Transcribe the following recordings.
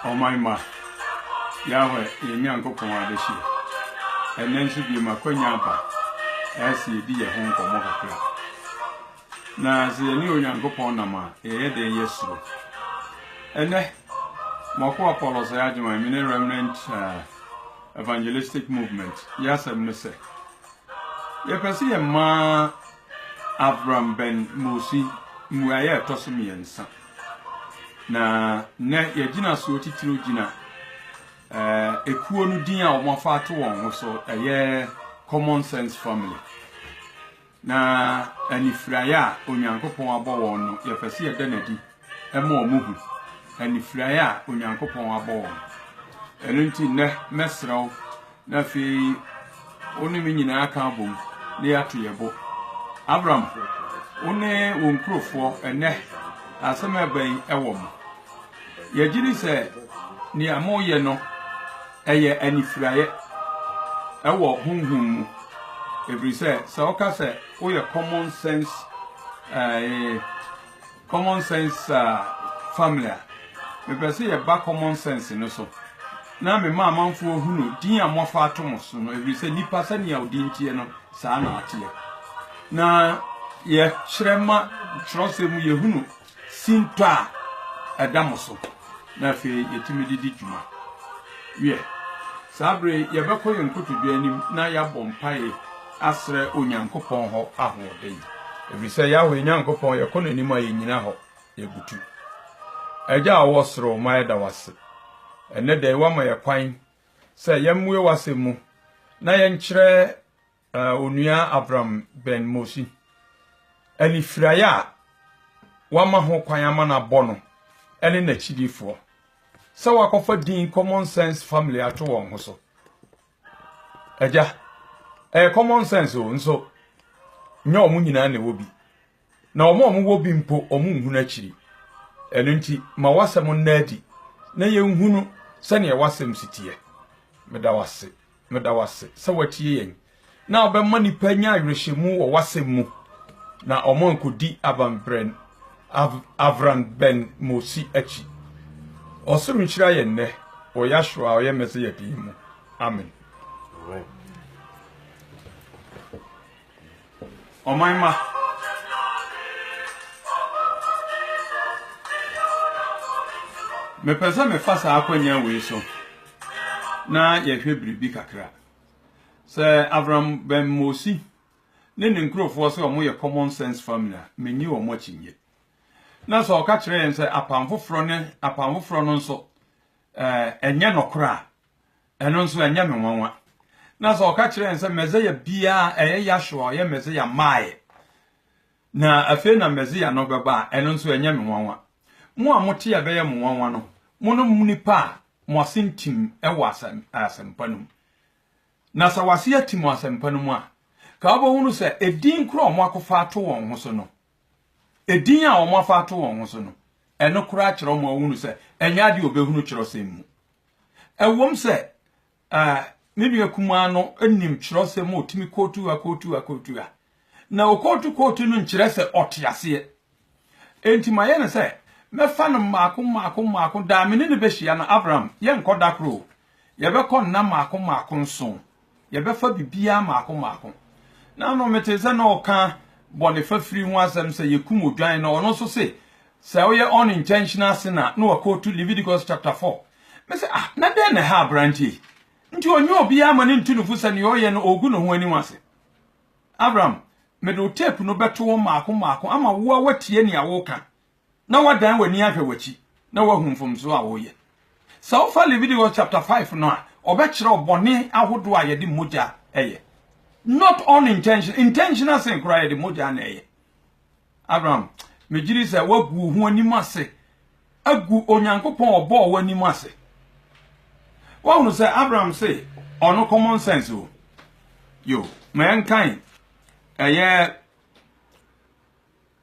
Ɔman ma Yahweh yɛn Nyankopɔn adehyia. Ɛnnɛ nso biem akwanya aba ɛsɛ yɛdi yɛn ho nkɔmmɔ kakra. Na sɛ yɛne Onyankopɔn nam a, yɛyɛ dɛn? Yɛsuro. Ɛnnɛ, m'akoa Paul Osagyewon, me ne Remnant uh, Evangelistic Movement, yɛasɛm ne sɛ, yɛpɛ sɛ yɛma Avram Ben Mosi mmuaeɛ a ɛtɔ so mmiɛnsa. Na nnɛ yɛgyina soɔ titiriw gyina eh, ekuo no din a wɔafa ato wɔn ho so ɛyɛ common sense family Na anifuraeɛ a Onyankopɔn abɔ wɔn no, yɛpɛ sɛ yɛda no adi ma wɔn hu. Anifuraeɛ a Onyankopɔn abɔ wɔn. Ɛno nti nnɛ mɛsrɛ wo na afei wo ne me nyinaa ka abom na yɛato yɛ bo. Abram, wo ne wo nkurofoɔ ɛnɛ asɛm ɛba yi ɛwɔ mo. Yɛgye di sɛ nea moyɛ no Ɛyɛ anifiraeɛ wɔ honhom mu, ɛfiri sɛ sɛ woka sɛ woyɛ common sense ɛɛ common sense ɛɛ family a, mepɛ sɛ yɛba common sense no so na mema amanfoɔ hunu din a moafa ato mo so no, ɛfiri sɛ nipa sɛnea odin teɛ no saa na ateɛ. Na yɛkyerɛ ma twerɛsɛm mu yɛhunu sintɔ a ɛda mo so na afei yɛtumi de di dwuma. Wiɛ, saa bere yɛbɛkɔ yɛn nkotodwe anim na yɛabɔ mpae asrɛ Onyankopɔn hɔ ahoɔden. Ɛfiri sɛ Yahweh Nyankopɔn, yɛkɔ n'anim a yɛnyina hɔ, yɛbutu. Agya a ɔwɔ soro, ɔma yɛda wase. Ɛnnɛ da yi, woama yɛ kwan sɛ yɛmmue w'asɛm mu na yɛnkyerɛ Uh, Onua Abram Ben Mosi, anifiraeɛ a wama ho kwan ama no abɔ no ne n'akyidifoɔ sɛ wakɔfa din common sense family ato wɔn ho so. Agya, ɛyɛ common sense o nso nyɛ wɔn nyinaa na ɛwɔ bi. na wɔn a wɔwɔ bi mpo wɔnhunu akyiri. Ɛno nti, ma w'asɛm nna adi na yɛnhunu sɛnea w'asɛm si teɛ. Meda w'ase, meda w'ase sɛ watie yɛn na ɔbɛma nnipa nya awerɛhyɛmu wɔ w'asɛm mu na wɔn ankɔdi abanbrɛn avran bɛn mosi akyi. Ɔsoro nhyira yɛn nnɛ wɔ Yahshua a ɔyɛ Mɛsɛyɛ din mu. Amen. Amen. Ɔman mma. Mepɛ sɛ mefa saa akwannya wei so na yɛhwɛ biribi kakra. Sɛ Avram Ben Mosi ne ne nkurɔfoɔ sɛ wɔyɛ common sense family a, menni wɔn akyinnye. Na sɛ ɔka kyerɛ yɛn sɛ apam foforɔ ne apam foforɔ no nso ɛnyɛ nɔkorɛ a, Ɛno nso, ɛnyɛ me nwanwa. Na sɛ ɔka kyerɛ yɛn sɛ Mesia biara a, ɛyɛ Yahshua a ɔyɛ Mesia maa yɛn, na afei na Mesia no bɛba a, ɛno nso, ɛnyɛ me nwanwa. Mo a mote a ɛbɛyɛ mo nwanwa no, monom nnipa a mo ase ntim wɔ asɛm, asɛmpa no mu. Na sɛ w'ase atim wɔ asɛmpa no mu a, ka wobɛhunu sɛ edin koro a wɔakɔfa ato wɔn ho so no, edin a wɔafa ato wɔn ho so no, ɛno koraa kyerɛ wɔn a wɔhunu sɛ ɛnyɛ ade a wɔbɛhunu kyerɛwsɛm mu. Ɛwom sɛ me nua kumaa no nim kyerɛwsɛm a otumi kootu a kootu a kootu a, na okootu kootu no nkyerɛ sɛ ɔte aseɛ. Enti mayɛ no sɛ mɛfa no mmaako mmaako mmaako daa me ne no bɛhyia no. Abraham, yɛnkɔ da koro o, yɛbɛkɔ nna mmaako mmaako nson Yɛbɛfa biribiara mmaako mmaako. Na ano metee sɛ na ɔka bɔne fafiri ho asɛm sɛ yɛkum odwan no, ɔno nso se sɛ woyɛ unintentional sin a na wakootu Leviticus chapter 4. Me se ah, na dɛn na ɛha aberanteɛ yi? Nti ɔnyɛ obiara ma ne ntu ne fo sɛ nea ɔyɛ no ɔregu ne ho anim ase. Abraham, mede wo tape no bɛto hɔ mmaako mmaako ama wo a woatie nea woka na woadan w'ani ahwɛ w'akyi na woahu mfomso a woreyɛ. Sɛ wofa Leviticus chapter five no a, ɔbɛkyerɛ wo bɔne ahodoɔ a yɛde mogya yɛ. Not unintentional, intentional sin koraa yɛde mogya na ɛyɛ. Abraham, megye di sɛ woagu wo ho anim ase agu Onyankopɔn a ɔbɔɔ wo anim ase. Woahunu sɛ Abraham se ɔno common sense o. Yo, ma yɛnkan ɛyɛ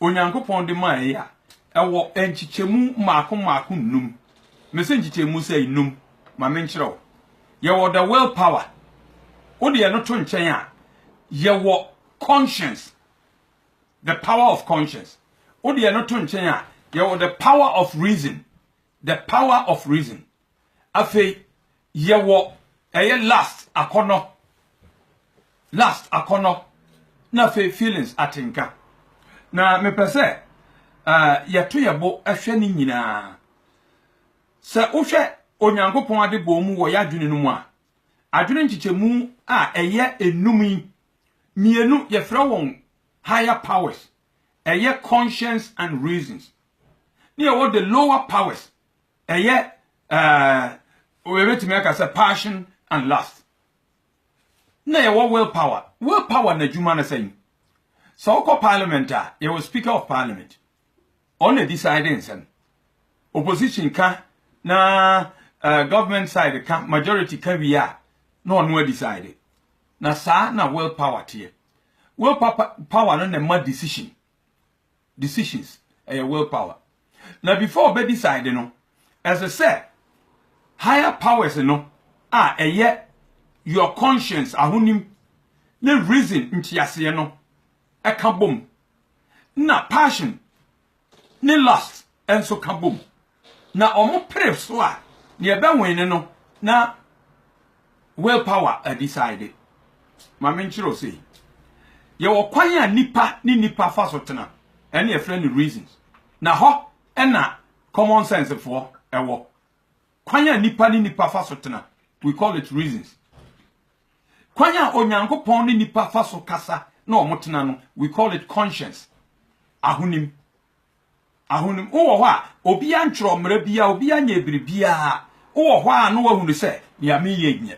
Onyankopɔn de mae a ɛwɔ nkyekyɛmu mmaako mmaako nnum. Mese nkyekyɛmu sɛ nnum. Ma menkyerɛ wo. Yɛwɔ the will power. Wode ɛno to nkyɛn a, yɛwɔ conscience, the power of conscience. Wode ɛno to nkyɛn a, yɛwɔ the power of reason, the power of reason. Afei yɛwɔ ɛyɛ lust akɔnnɔ, lust akɔnnɔ, na afei feelings atenka. Na mepɛ sɛ uh, yɛto yɛ bo hwɛ ne nyinaa. Sɛ wohwɛ Onyankopɔn ade bɔɔ mu wɔ yɛ adwene no mu a, adwene nkyekyɛmu a ɛyɛ enum yi, mmienu yɛfrɛ wɔn higher powers, ɛyɛ conscience and reasons. Ne yɛwɔ the lower powers, Ɛyɛ eh, yɛbɛtumi aka sɛ passion and lust. Na yɛwɔ will power. Will power na adwuma no sɛn? Sɛ wokɔ parliament a, yɛwɔ speaker of parliament. Ɔna decide nsɛm. Opposition ka na uh, government side ka, majority ka wie a, na ɔno adecide. Na saa na will power teɛ. Will power no na ma decision. decisions ɛyɛ will power na before ɔbɛ decide no ɛsɛ sɛ higher powers no a ɛyɛ your conscience ahonim ne reason nteaseɛ no ɛka bom na passion ne lust ɛnso ka bom. Na ɔmo pere so a, nea ɛbɛ wene no na will power a decide. Ma me nkyerɛ wo sei, yɛwɔ kwan a nipa ne nipa fa so tena, ɛne yɛfrɛ no reasons. Na hɔ ɛna common sense foɔ ɛwɔ. Kwan a nipa ne nipa fa so tena, we call it reasons. Kwan a Onyankopɔn ne nipa fa so kasa na ɔmo tena no, we call it conscience, ahonim. ahonim. Wowɔ hɔ a, obiara ntwerɛ mmara biara, obiara nyɛɛ biribiara. Wowɔ hɔ ara na woahunu sɛ nea mereyɛ nyɛ.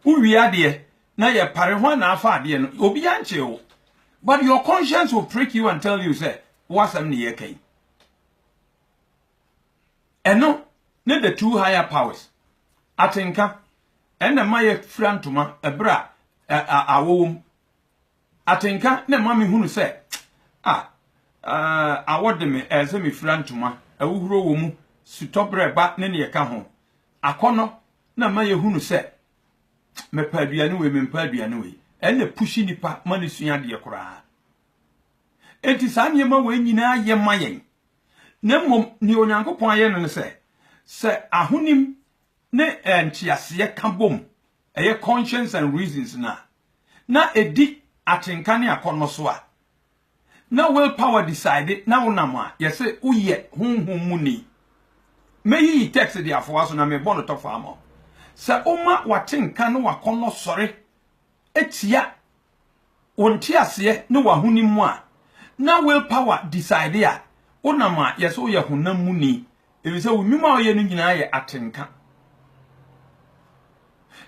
Wowie adeɛ na yɛpare, hwan na afa adeɛ no? Obiara nkyee wo. But your conscience will prick you and tell you sɛ w'asɛm na yɛreka yi. Ɛno ne the two higher powers. Atenka ɛna ɛma yɛfira ntoma ɛberɛ a awɔ wɔ mu. Atenka na ɛma me hunu sɛ ah ah awɔ de me ɛɛ sɛ me fira ntoma, ahuhuro wɔ mu, sutɔ brɛ ba ne neɛ ɛka ho. Akɔnɔ na ɛma yɛ hunu sɛ me pɛ aduane wei me mpɛ aduane wei, ɛna ɛpushi nipa ma no sua adeɛ koraa. Enti saa nneɛma wei nyinaa yɛ ma yɛn. Na mmom neɛ Onyankopɔn ayɛ no ne sɛ, sɛ ahonim ne ɛɛ nteaseɛ ka bom ɛyɛ Conscience and Reasons no a, na ɛdi atenka ne akɔnnɔ so a, na Will Power decide na wonam a, yɛse woyɛ honhom mu ni. Mɛyiyi text de afoa so na merebɔ no tɔfo ama wo. Sɛ woma w'atenka ne w'akɔnnɔ sɔre tia wo nteaseɛ ne w'ahonim mu a, na will power decide a, wonam a yɛse woyɛ honam mu ni, efisɛ wo nnwuma a woyɛ no nyinaa yɛ atenka.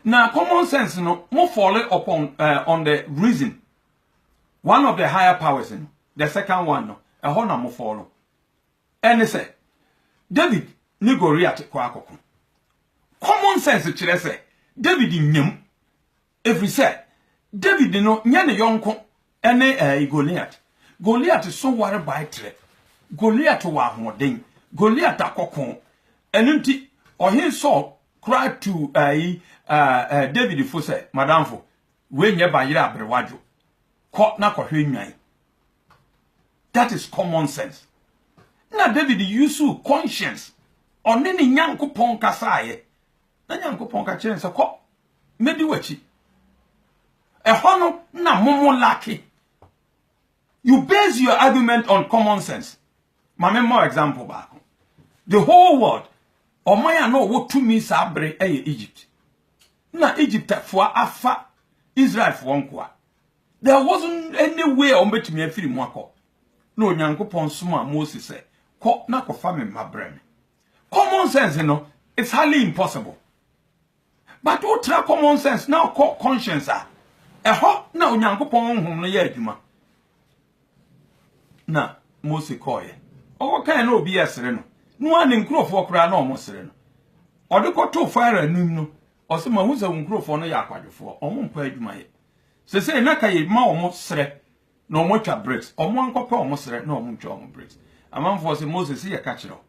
Na common sense no, mo fall upon uh, on the reason, one of the higher powers no, the second one no, ɛhɔ na mo fall. Ɛne sɛ, David ne Goliath kɔ akɔko. Common sense kyerɛ sɛ, David nyam, ɛfiri sɛ David no nyɛ ne yɔnko ne ɛɛ Goliat. Goliat so ware bae trɛ. Goliat wɔ ahoɔden. Goliat akɔko. Ɛno nti, ɔhene Saul koraa tuu ɛɛ ɛɛ David fo sɛ, madamfo, wei nyɛ bayerɛ aberewa dwo. Kɔ na kɔhwɛ nnwan. That is common sense. Na David yusu conscience. Ɔne ne Nyankopɔn kasaeɛ. Na Nyankopɔn ka kyerɛɛ no sɛ, Kɔ, mɛdi w'akyi. Ɛhɔ no na momo lake. You base your argument on common sense. Ma me mmɔ example baako. The whole world, ɔman a na ɔwɔ tumi saa bere ɛyɛ Egypt. Na Egyptfoɔ afa Israelfoɔ nkoa. There wasn't any way a wɔbɛtumi afiri mu akɔ. Na Onyankopɔn somaa Mose sɛ, kɔ na kɔfa me mma brɛ me. Common sense no it's highly impossible but wo tra common sense na ɔkɔ conscience a ɛhɔ na Onyankopɔn honhom no yɛ adwuma na Mose kɔɔyɛ ɔkɔ kan na obi yɛ sere no no a ne nkurɔfoɔ koraa na ɔmo sere no ɔde kɔto Farao anim no ɔsɛ ma hu sɛ wo nkurɔfoɔ no yɛ akwadwofoɔ ɔmo mpɛ adwuma yɛ sese na ka yɛ ma ɔmo sere na ɔmo atwa bricks ɔmo ankɔ pɛ ɔmo srɛ na ɔmo ntwa ɔmo bricks amanfoɔ se Moses se yɛ ka kyerɛ wo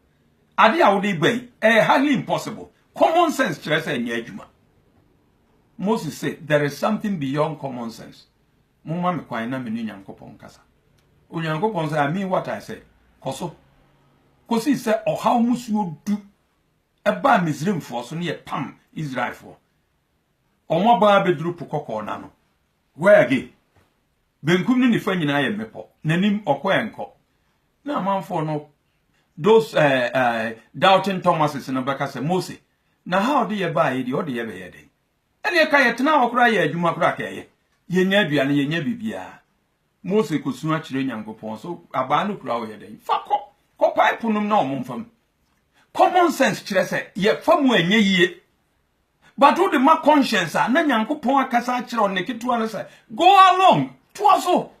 ade a wode ba yi ɛyɛ highly impossible common sense kyerɛ sɛ ɛnyɛ adwuma Moses se there is something beyond common sense mo ma me kwan na me ne Nyankopɔn kasa Onyankopɔn sɛ I mean what I say kɔ so kɔsi sɛ ɔhaw musuo du ɛbaa Misraimfoɔ so ne yɛ pam Israelfoɔ ɔmo abaa bɛduru po kɔkɔɔ na no Where again? Benkum ne nifa nyinaa yɛ mmepɔ, n'anim ɔkɔ ɛ nkɔ. Na amanfoɔ no, those eh, eh, doubting Thomases no bɛka sɛ, Mose, na ha ɔde yɛ baa yi deɛ ɔde yɛ bɛyɛ dɛn? Ɛneɛ ka yɛtena hɔ koraa yɛ adwuma koraa ka ɛyɛ. Yɛnya aduane, yɛnya biribiara. Mose kɔsua kyerɛ Nyankopɔn so abaa no kura ɔyɛ dɛn? Fa kɔ, kɔpae po nom na ɔmo mfa mu. Common sense kyerɛ sɛ yɛfa mu a ɛnyɛ yie. But wo de ma conscience a na Nyankopɔn akasa akyerɛ ɔne ketewa no sɛ go along toa so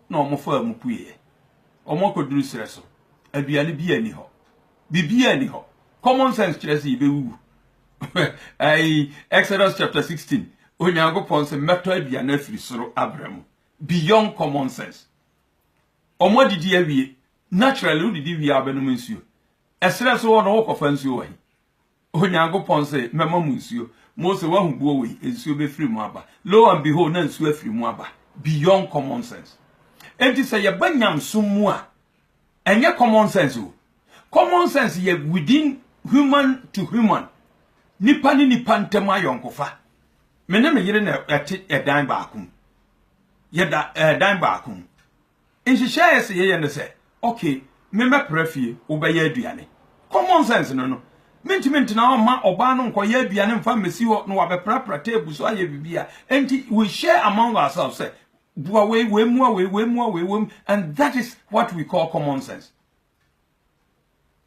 na wɔn faa mu pueɛ wɔn akɔduru serɛ so aduane bi ani hɔ biribi ani hɔ common sense kyerɛ sɛ yɛbɛwuwu ɛyi Exodus chapter 16 Onyankopɔn sɛ mɛtɔ aduane afiri soro abrɛ mu beyond common sense wɔn adidi awie naturally wodidi wie a wobɛnom nsuo ɛserɛ so hɔ no wokɔfa nsuo wɔ he Onyankopɔn se, Mɛma mo nsuo. Mose, woahu boɔ wei? Nsuo bɛfiri mu aba. Lo and behold, na nsuo afiri mu aba. Beyond common sense. Enti sɛ yɛba nyamesom mu a, ɛnyɛ common sense o. Common sense yɛ within human to human, nipa ne nipa ntam ayɔnkofa. Me ne me yere na ɛte ɛdan baako mu. Yɛda ɛdan baako mu. nhyehyɛe a ɛsɛ sɛ yɛyɛ ne sɛ, okay, me mɛpra fie, wobɛyɛ aduane. Common sense no no, mentumi ntena hɔ mma ɔbaa no nkɔyɛ aduane mfa mmɛsi hɔ na wabɛprapra table so ayɛ biribi a. Enti we share among ourselves sɛ, boa wei, wei mmoa wei, wei mmoa wei, wei, and that is what we call common sense.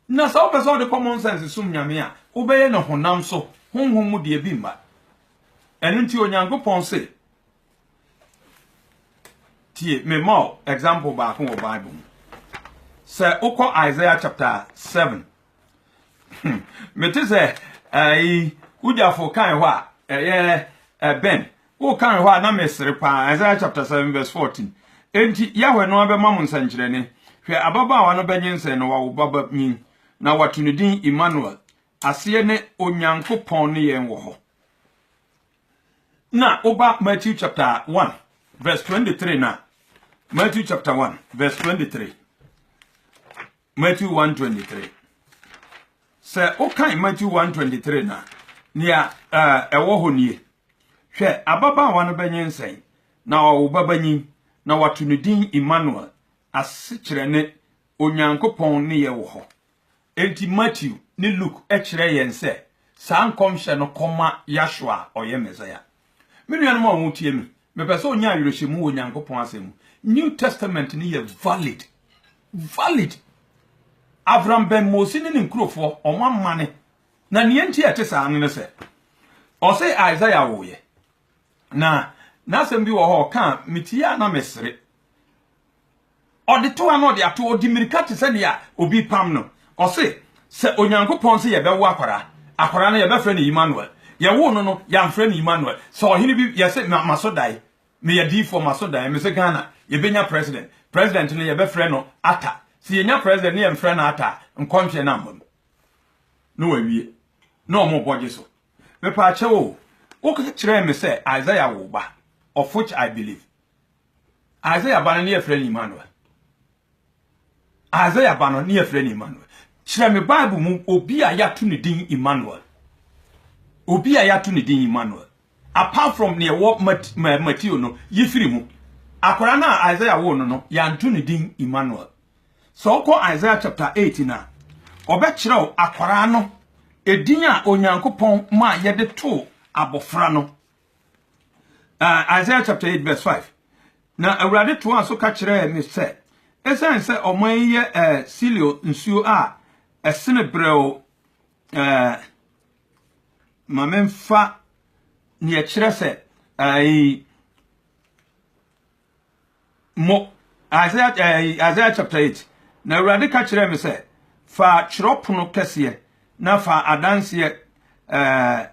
Na sɛ wopɛ sɛ wode common sense som Nyame a, wobɛyɛ no honam so, honhom mu deɛ bi mma. Ɛno nti Onyankopɔn se, tie, mema wo example baako wɔ Bible mu. Sɛ wokɔ Isaiah chapter 7, hmm, mete sɛ ɛyi wogyafo kan hɔ a ɛyɛ ɛbɛn Woka wɔ hɔ a, na mesere paa. Isaiah chapter 7 verse 14. Enti Yahweh no abɛma mo nsɛnkyerɛnne. Hwɛ, ababaawa no bɛnyinsɛn na wawo babanyin, na wɔato ne din Emmanuel. Aseɛ ne Onyankopɔn ne yɛn wɔ hɔ. Na woba Matthew chapter 1 verse 23 na Matthew chapter 1 verse 23. Matthew 1:23. Sɛ wokan Matthew 1:23 na nea ɛwɔ hɔ nie. Hwɛ, ababaawa no bɛnyinsɛn na ɔwo babanyin, na wɔato no din Emmanuel, asekyerɛ ne Onyankopɔn ne yɛ wɔ hɔ. Enti Matthew ne Luke kyerɛ yɛn sɛ saa nkɔmhyɛ no kɔma Yahshua a ɔyɛ Mesia. Me nuanom a wɔretie me, mepɛ sɛ onya awerɛhyɛmu wɔ Nyankopɔn asɛm mu. New Testament no yɛ valid. Valid. Avram bɛn Mose ne ne nkurofoɔ, wɔn amane. Na nea nti a ɛte saa no ne sɛ, ɔse Isaiah woeɛ. Na n'asɛm bi wɔ hɔ a ɔka a, metie a na mesere. Ɔde to ha na ɔde ato hɔ, ɔdi mmirika te sɛ nea obi repam no. Ɔse, Sɛ Onyankopɔn se yɛbɛwo akwadaa, akwadaa no yɛbɛfrɛ no Immanuel. Yɛwoo no no, yɛamfrɛ no Immanuel. Sɛ ɔhene bi, yɛse, Ma, maso dae, meyɛ diyifoɔ, maso dae, mese Ghana, yɛbɛnya president. President no, yɛbɛfrɛ no Atta. Sɛ yɛnya president na yɛmfrɛ no Atta a, nkɔntweɛ no ammam. Na wɔawie. Na wɔrebɔ gye so. Mepaakyɛw o, woka kyerɛɛ me sɛ Isaiah woo ba, of which I believe. Isaiah ba no ne yɛfrɛ no Emmanuel. Isaiah ba no ne yɛfrɛ no Emmanuel. Kyerɛ me Bible mu obi a yɛato ne din Emmanuel. Obi a yɛato ne din Emmanuel. Apart from ne ɛwɔ Matthew no, yi firi mu. Akwadaa no a Isaiah woo no no, yɛanto ne din Emmanuel. Sɛ wokɔ Isaiah chapter 8 no a, ɔbɛkyerɛw akwadaa no edin a Onyankopɔn ma yɛde too abɔfra no. Uh, Isaiah chapter 8 verse 5. Na Awurade toaa so ka kyerɛɛ me sɛ, ɛsiane sɛ ɔman yi yɛ uh, Silio nsuo a ɛsene berɛw uh, ma memfa neɛ kyerɛ sɛ uh, Mo. Isaiah, eh, Isaiah chapter 8. Na Awurade ka kyerɛɛ me sɛ, Fa twerɛpono kɛseɛ, na fa adanseɛ, eh,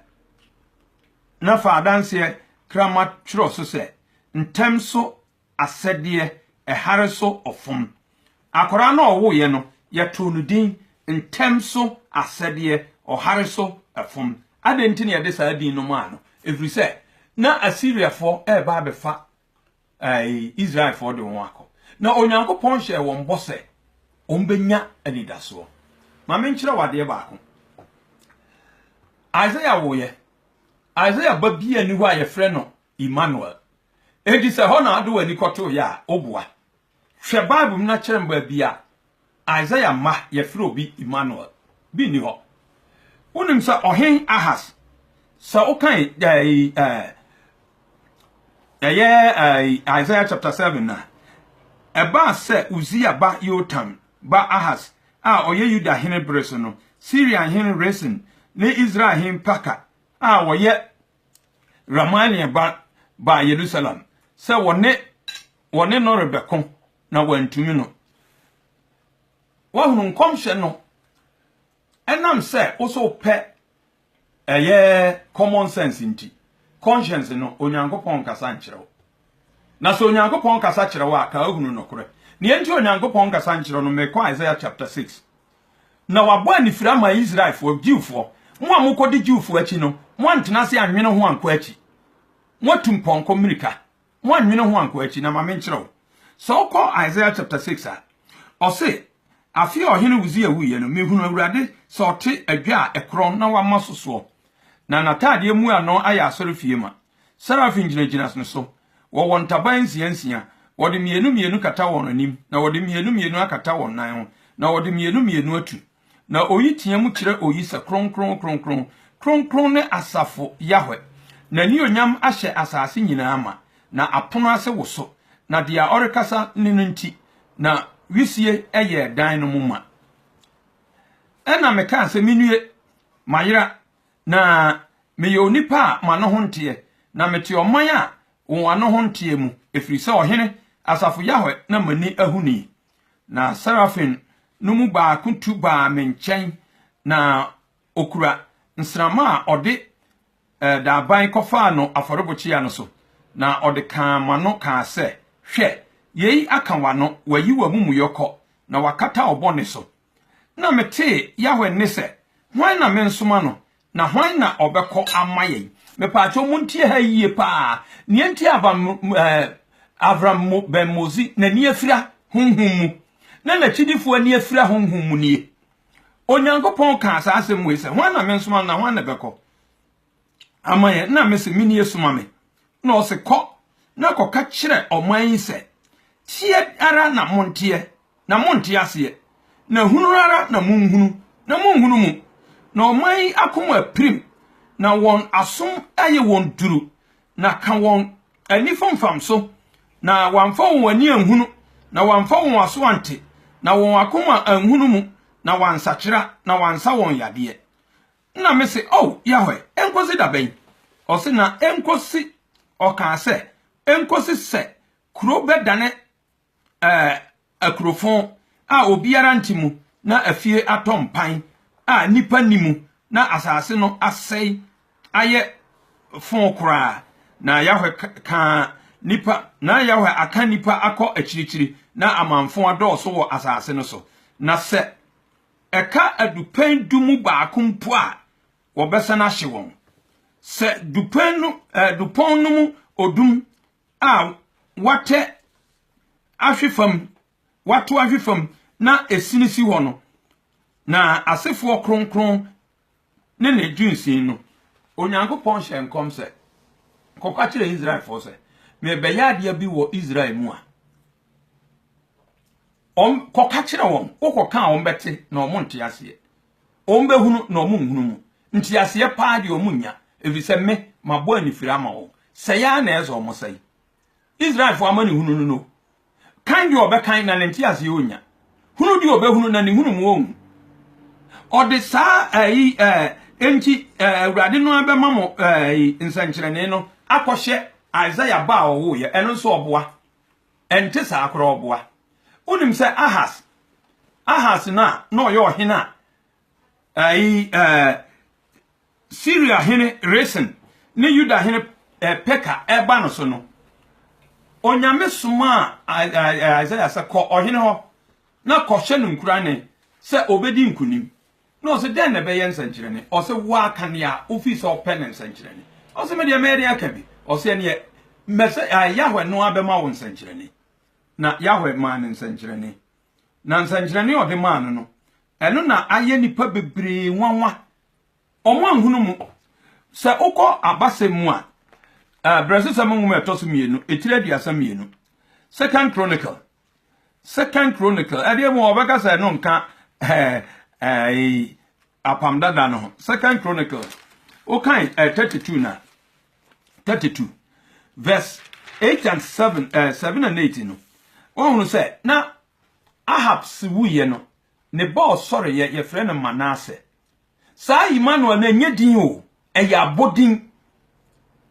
na fa adanseɛ krama twerɛ so sɛ, ntɛm so asɛdeɛ, ɛhare so ɔfom. Akwaraa no a ɔwoeɛ no, yɛtoo no din ntɛm so asɛdeɛ, ɔhare so ɛfom. Adɛn nti na yɛde saa din no maa no? Ɛfiri sɛ, na Asiriafoɔ reba abɛfa ɛɛ, Israelfoɔ de wɔn akɔ. Na Onyankopɔn hyɛɛ wɔn bɔ sɛ wɔbɛnya anidasoɔ. Ma menkyerɛ wo adeɛ baako. Isaiah woeɛ. Isaiah ba bi ani hɔ a yɛfrɛ no Emmanuel. Enti sɛ hɔ na wode w'ani kɔtoeɛ a, woboa. Hwɛ Bible mu na kyerɛ me baabi a Isaiah mma yɛfrɛ obi Immanuel. Bi nni hɔ. Wonim sɛ Ɔhen Ahas, sɛ wokan ɛyi ɛɛ ɛyɛ ɛyi Isaiah chapter seven na ɛbaa sɛ Uzia ba Yotam ba Ahas a ɔyɛ Yuda hene bere so no, Syria hene Resin ne Israel hene Paka a ɔyɛ Ramalia ba baa Yerusalem sɛ wɔne Wɔne no rebɛko, na wɔantumi no. Woahunu nkɔmhyɛ no. Ɛnam sɛ wo sɛ wopɛ ɛyɛ common sense nti, conscience no, Onyankopɔn nkasa nkyerɛ wo. Na sɛ Onyankopɔn kasa kyerɛ wo a, ka ahunu nokorɛ. Neɛ nti Onyankopɔn nkasa nkyerɛ no, mekɔ Isaiah chapter 6. Na wabɔ anifiri ama Israelfoɔ, Jewfoɔ, mo a mokɔdi Jewfoɔ akyi no, moantena ase anwene ho ankɔ akyi. Moatu mpɔnkɔ mmirika, Mo anwene ho ankɔ akyi na ma menkyerɛ wo. Sɛ wokɔ Isaiah chapter 6 a, ɔse, Afe a ɔhene Usia wuiɛ no, mehunu Awurade sɛ ɔte adwa a ɛkorɔn na wama so soɔ, na n'ataadeɛ mu ano ayɛ asɔrefie ma. Serafim gyinagyina ne so, wɔwɔ ntaban nsia nsia, wɔde mmienu mmienu kata wɔn anim, na wɔde mmienu mmienu akata wɔn nan ho, na wɔde mmienu mmienu atu. Na oyi teɛm kyerɛ oyi sɛ, Kronkron, kronkron, kronkron ne asafo Yahweh, n'anuonyam ahyɛ asase nyinaa ma, na apono ase woso, na deɛ ɔrekasa ne no nti, na wisie yɛɛ dan no mu ma. Ɛnna mekaa sɛ, Menue, mayera, na meyɛ onipa a m'ano ho nteɛ, na mete ɔman a wɔn ano ho nteɛ mu, ɛfiri sɛ ɔhene, asafo Yahweh na m'ani ahunu yi. Na serafim no mu baako tu baa me nkyɛn, na okura nsramma a ɔde eh, daaban kɔfaa no afɔrebukyia no so, na ɔde kaa m'ano kaa sɛ, Hwɛ, yei aka w'ano, wayi w'amumuyɔ kɔ, na wakata wo bɔne so. Nna metsee Yahweh nne sɛ, Hwan na mensoma no, na hwan na ɔbɛkɔ ama yɛn? Mepaakyɛw muntie ha yie paa, nea enti a Avram mu Ben Mozi n'ani afira honhom mu, na n'akyidifo ani afira honhom mu nie. Onyankopɔn kaa saa asɛm wei sɛ, Hwan na mensoma no, na hwan na ɛbɛkɔ? ama yɛn na mese me nie soma me na ɔse kɔ na kɔka kyerɛ ɔman yi sɛ teɛ ara na monteɛ na monte aseɛ na hunu ara na monhunu na monhunu mu na ɔman yi akoma pirim na wɔn asom ayɛ wɔn duru na ka wɔn ani fomfam so na wɔamfa wɔn ani anhunu na wɔamfa wɔn aso ante na wɔn akoma anhunu mu na wɔansakyera na wɔansa wɔn yadeɛ Nna mese, O Yahweh, enkosi da bɛn? Ɔse, Na enkosi, ɔkaa sɛ, enkosi sɛ kurow bɛdane akurofon a obiara nte mu, na afie atɔ mpan a nnipa nni mu, na asase no asɛe ayɛ fon koraa. Na Yahweh kaa nnipa, na Yahweh aka nnipa akɔ akyirikyiri, na amamfõ adɔɔso wɔ asase no so. Na sɛ ɛka adupɛn du mu baako mpo a, wɔbɛsan ahye wɔn. Sɛ dupɛn no, eh, dupɔn no mu odum a wɔatɛ ahwe fam, wɔato ahwe fam na esini si hɔ no, na asefoɔ kronkron ne ne dwensini no, Onyankopɔn hyɛɛ nkɔm sɛ, Kɔka kyerɛ Israelfoɔ sɛ, merebɛyɛ adeɛ bi wɔ Israel mu a wɔn kɔka kyerɛ wɔn wokɔka a wɔn bɛte na wɔn nte aseɛ wɔn bɛhunu na wɔn nhunu mu nte aseɛ paa deɛ wɔn nya ɛfiri sɛ me mabɔ anifiri ama wɔn sɛe ara na ɛsɛ wɔn sɛe Israelfoɔ amanehunu no no Kan deɛ ɔbɛkan, na ne nteaseɛ ɔnnya. Hunu deɛ ɔbɛhunu, na ne nhunumu ɔnhu. Ɔde saa ɛyi ɛɛ enti ɛɛ Awurade no ara bɛma mo ɛɛ nsɛnkyerɛnee no akɔhyɛ Isaiah ba a ɔwoeɛ. Ɛno nso ɔboa. Ɛnte saa koraa ɔboa. Wonim sɛ Ahas, Ahas no a na ɔyɛ ɔhene a ɛyi ɛɛ Siria hene Resin ne Yuda hene Peka reba no so no, Onyame somaa Isaiah sɛ, Kɔ ɔhene hɔ na kɔhyɛ no nkurane sɛ ɔbɛdi nkonim. Na ɔsɛ, Dɛn na ɛbɛyɛ nsɛnkyerɛnne? Ɔsɛ, Woaka nea wofii sɛ ɔpɛ ne nsɛnkyerɛnne. Ɔsɛ, Medeɛ mɛyɛ dɛn aka bi? Ɔsɛ, Ɛneɛ mɛsɛ Yahweh no ara bɛma wo nsɛnkyerɛnne. Na Yahweh maa no nsɛnkyerɛnne. Na nsɛnkyerɛnne a ɔde maa no no, ɛno na ayɛ nnipa bebree nwanwa Wɔanhunu mu. Sɛ wokɔ abasɛm mu a, Abrɛsosɛm nwoma a ɛtɔ so mmienu, etire aduasa mmienu, Second Chronicle, Second Chronicle, ɛdeɛ mu wɔbɛka sɛ ɛno nka apam dada no ho. Second Chronicle, wokan 32 na 32 verse 8 and 7, 7 and 8 no, wɔhunu sɛ na Ahab si wuiɛ no, Ne ba ɔsɔreeɛ, yɛfrɛ no Manase. Saa Imanuel no, ɛnyɛ din o, ɛyɛ abodin.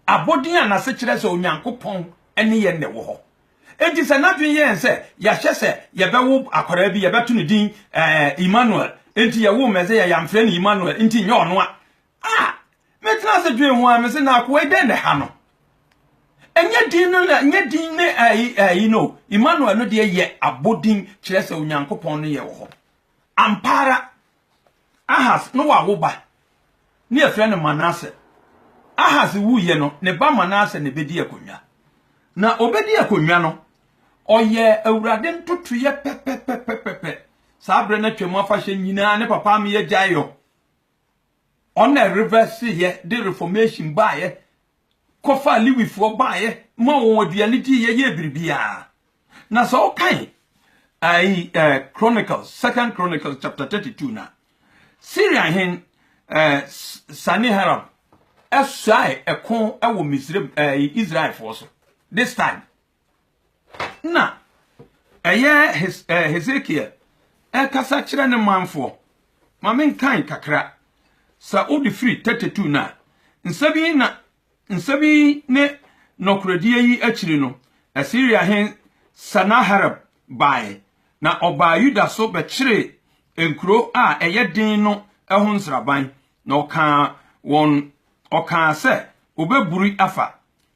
Abodin a n'ase kyerɛ sɛ Onyankopɔn ne yɛn na ɛwɔ hɔ. Enti sɛ n'adwene yɛ yɛn sɛ yɛahyɛ sɛ yɛbɛwo akwadaa bi, yɛbɛto no din ɛɛ Imanuel, enti yɛwoo Mesia, yɛamfrɛ no Imanuel, enti nyɛ ɔno a Ah! Me tena ase dwen ho a me se na akoa dɛn na ha no? Ɛnyɛ din no na ɛnyɛ din ne ayi ayi no. Emmanuel no deɛ yɛ abodin kyerɛ sɛ Onyankopɔn no yɛ wɔ hɔ. Ampa ara Ahas no wawo ba ne yɛfrɛ no Manase. Ahas wuiɛ no ne ba Manase na ɛbɛdi akonnwa. Na ɔbɛdi akonnwa no ɔyɛ awurade ntotoeɛ pɛpɛpɛpɛpɛ saa berɛ no atwam afahyɛ nyinaa ne papa ameyɛ gyaeɛ Wɔn na ɛrevɛseeɛ de reformation baeɛ kɔfaa Lewifoɔ baeɛ ma wɔn aduane diiɛ yɛɛ biribiara. Na sɛ wokan ayi eh, Chronicles, Second Chronicles chapter 32 na Syria hen eh, Saniharab ɛsɔe ɛko ɛwɔ Misraim eh, Israelfoɔ so this time. Nna ɛyɛ Hes eh, Hesekiel ɛrekasa kyerɛ ne manfoɔ. Ma menkan kakra. Sɛ wode firi 32 no a, nsɛm yi na nsɛm yi ne nɔkorɛdie yi akyiri no, Asiria hen Sanaherib baeɛ, na ɔbaa Yuda so bɛkyeree nkuro a ɛyɛ den no ho nsraban, na ɔkaa wɔn ɔkaa sɛ wɔbɛburi afa,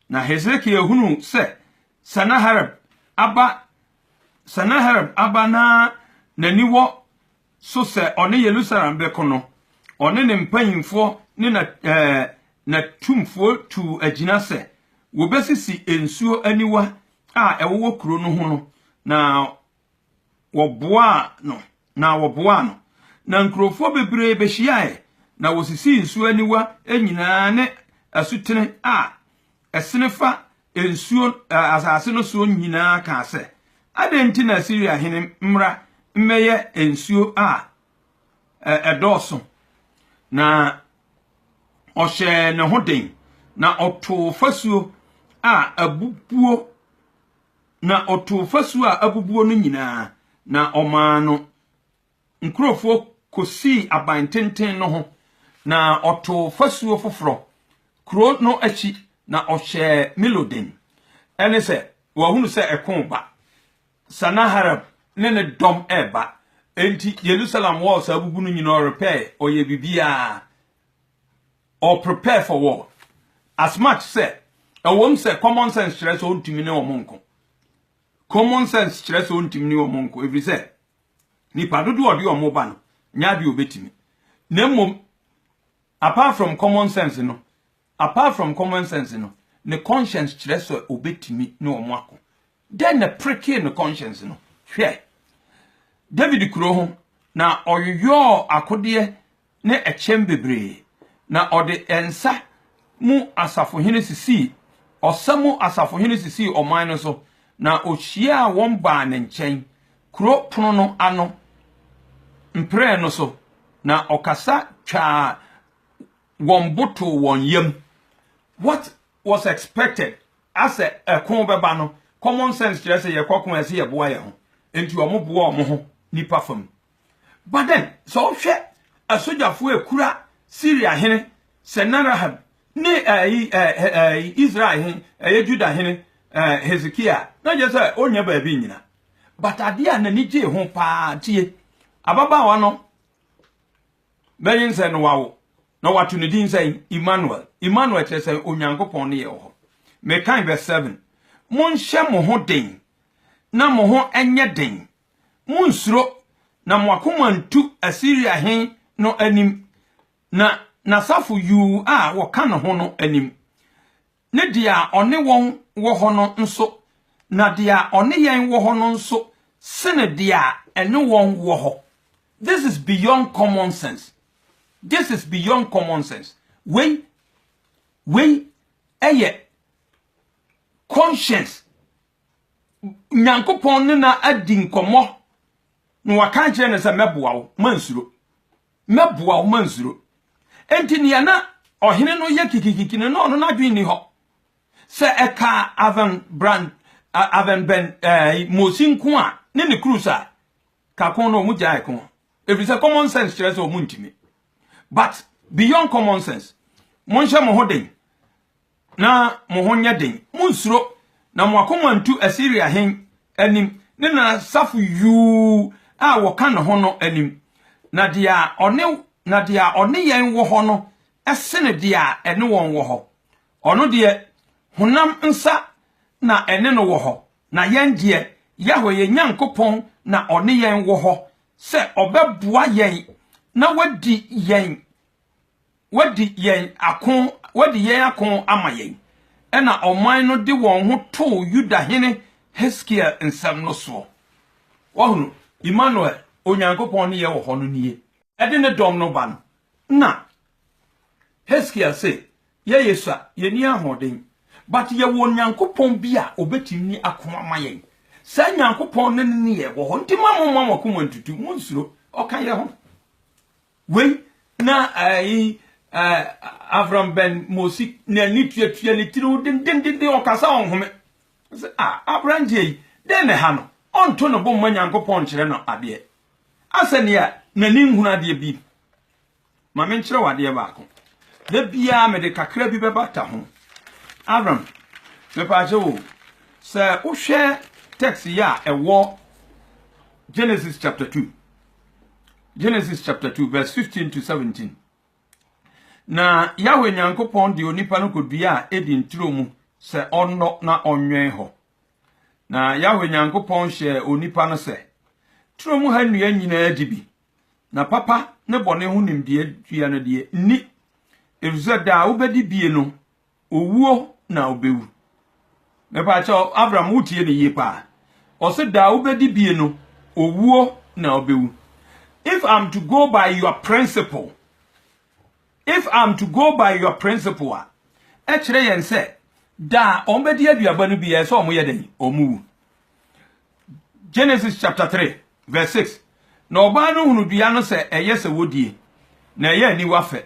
Na Hesekia hunuu sɛ Sanaherib aba Sanaherib aba na n'ani wɔ so sɛ ɔne Yerusalem bɛko no, ɔne ne mpanyimfoɔ ne na ɛɛ n'atumfoɔ tuu agyina sɛ wɔbɛsisi nsuo aniwa a ɛwowɔ kuro no ho no, na wɔboaa no na wɔboaa no, na nkurɔfoɔ bebree bɛhyiaeɛ, na wɔsisii nsuo aniwa nyinaa ne asutene a ɛsene fa nsuo ɛ, asase no soɔ nyinaa kaa sɛ, Adɛn nti na Asiria hene mmra mmɛyɛ nsuo a ɛ, ɛdɔɔso? Na ɔhyɛɛ ne ho den, na ɔtoo fasuo a abubuo na ɔtoo fasuo a abubuo no nyinaa, na ɔmaa no nkurɔfoɔ kɔsii aban tenten no ho, na ɔtoo fasuo foforɔ kuro no akyi, na ɔhyɛɛ Milo den. Ɛne sɛ, wɔahunu sɛ ɛko reba, Sanaherib ne ne dɔm reba, enti Yerusalem walls a abubu no nyinaa ɔrepɛɛ, ɔyɛɛ biribiara. Or prepare for war. As much sɛ, ɛwom sɛ common sense kyerɛ sɛ ontumi ne wɔn nko. Common sense kyerɛ sɛ ontumi ne wɔn nko ɛfiri sɛ nipa dodoɔ a ɔde wɔn ba no nyɛ adeɛ obetumi. Na mmom, apart from common sense no, apart from common sense no, ne conscience kyerɛ sɛ obetumi ne wɔn ako. Dɛn na prekee ne conscience no? Hwɛ David kuro ho, na ɔyoyɔɔ akodeɛ ne ɛkyɛm bebree, na ɔde nsa mu asafohene sisii, ɔsa mu asafohene sisii ɔman no so, na ɔhyiaa wɔn baa ne nkyɛn kuro pono no ano mprɛɛ no so, na ɔkasa twaa wɔn bo too wɔn yam. What was expected a sɛ ɛko bɛba no common sense kyerɛ sɛ yɛkɔ ko a ɛsɛ yɛboa yɛn ho enti wɔn boa wɔn ho nipa fam but then sɛ wohwɛ asogyafoɔ ekura Syria hene Sennacherib ne ɛyi ɛyi Israel hene ɛyɛ Judah hene Hezekia na gye sɛ onya baabi nyina but adeɛ a n'ani gyee ho paa tie ababaawa no Bɛnyin sɛn na wawo, na wɔato ne din sɛn? Immanuel. Immanuel kyerɛ sɛ Onyankopɔn ne yɛn wɔ hɔ. Mekae verse 7. Monhyɛ mo ho den, na mo ho nyɛ den. Munnsuro, na mo akoma ntu Asiria hen no anim, na n'asafo yuu a wɔka ne ho no anim. ne deɛ a ɔne wɔn wɔ hɔ no nso, na deɛ a ɔne yɛn wɔ hɔ no nso sene deɛ a ɛne wɔn wɔ hɔ. This is beyond common sense. This is beyond common sense. Wei, wei ɛyɛ conscience. Nyankopɔn ne na adi nkɔmmɔ na waka akyerɛ no sɛ mɛboa wo, mansuro. Mɛboa wo, mansuro. Enti nea na ɔhene no yɛ kikikiki no, na ɔno n'adwene nni hɔ. Sɛ ɛka Aven Bran, Aven Ben eh, Mosi nko a, ne ne cruise a, ka ko no wɔn gyae ko. Ɛfiri sɛ common sense kyerɛ sɛ wɔn ntumi. But beyond common sense, monhyɛ mo ho den. na mo ho nyɛ den. Munnsuro, na mo akoma nntu Asiria hene anim ne n'asafo yuu a wɔka ne ho no anim. Na deɛ ɔne na deɛ ɔne yɛn wɔ hɔ no sene deɛ a ɛne wɔn wɔ hɔ. Ɔno deɛ, honam nsa na ɛne no wɔ hɔ, na yɛn deɛ, Yahweh yɛn Nyankopɔn na ɔne yɛn wɔ hɔ sɛ ɔbɛboa yɛn na wadi yɛn wɔadi yɛn ako, wɔadi yɛn ako ama yɛn. Ɛnna ɔman no de wɔn ho too Yuda hene Hesekiel nsɛm no soɔ. Wɔhunu, Imanuel, Onyankopɔn ne yɛn wɔ hɔ no nie. Ɛde ne dɔm no ba no, na Hesekiel se, Yɛyɛ sua, yɛnni ahoɔden, but yɛwɔ Onyankopɔn bi a ɔbɛtumi ako ama yɛn. Saa Nyankopɔn no ne yɛn wɔ hɔ, nti moamomma mo akoma ntutu, monnsuro, ɔka yɛn ho. Wei na ɛyi ɛɛ Avram Ben Mosi n'ani tuatua ne tiriw dendenden, ɔkasa ɔnhome. Ɔse, a, aberanteɛ yi, dɛn na ɛha no? Ɔnto ne bo mma Nyankopɔn nkyerɛ no adeɛ? Asɛ nea n'ani nhunu adeɛ bi? Ma menkyerɛ wo adeɛ baako. Da biara mede kakra bi bɛbata ho. Avram, mepaakyɛ wo, sɛ wohwɛ text yi a ɛwɔ Genesis chapter two, Genesis chapter 2 verse 15 to 17. Na Yahweh Nyankopɔn de onipa no kodua a edi nturo mu sɛ ɔnnɔ na ɔnwɛn hɔ. Na Yahweh Nyankopɔn hyɛɛ onipa no sɛ, turo mu ha nnua nyinaa di bi, na papa ne bɔne ho nimdeɛ dua no deɛ nni, efisɛ da a wobɛdi bie no, owuo na ɔbɛwu. Mepaakyɛ Avram wotie ne yie paa. Ɔse da a wobɛdi bie no owuo na ɔbɛwu. If I'm to go by your principle, if I'm to go by your principle a, ɛkyerɛ yɛn sɛ da a wɔbɛdi aduaba no bi ɛsɛ wɔn yɛ dɛn wɔn wu. Genesis chapter 3 verse 6 Na ɔbaa no hunu dua no sɛ ɛyɛ sɛ wɔdie, na ɛyɛ aniwa fɛ,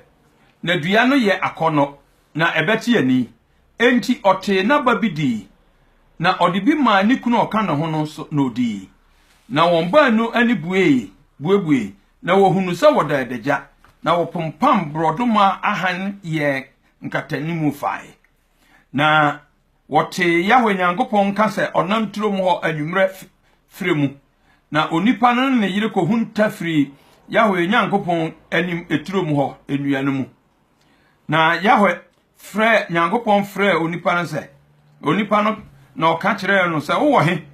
na dua no yɛ akɔnnɔ, na ɛbɛte ani. Enti ɔtee n'aba bi dii, na ɔde bi maa ne kunu a ɔka ne ho no nso, na ɔdii. Na wɔn baanu ani buee, buebuee, na wɔhunuu sɛ wɔda adagya, na wɔpompam borɔdɔma ahan yɛɛ nkatanimu fae. Na wɔtee Yahweh Nyankopɔn nka sɛ ɔnam turom hɔ anwummerɛ frɛ mu. Na onipa no ne ne yere kɔhunta firii Yahweh Nyankopɔn anim turom hɔ nnua no mu. Na Yahweh frɛ Nyankopɔn frɛɛ onipa no sɛ, onipa no na ɔka kyerɛɛ no sɛ, wowɔ he?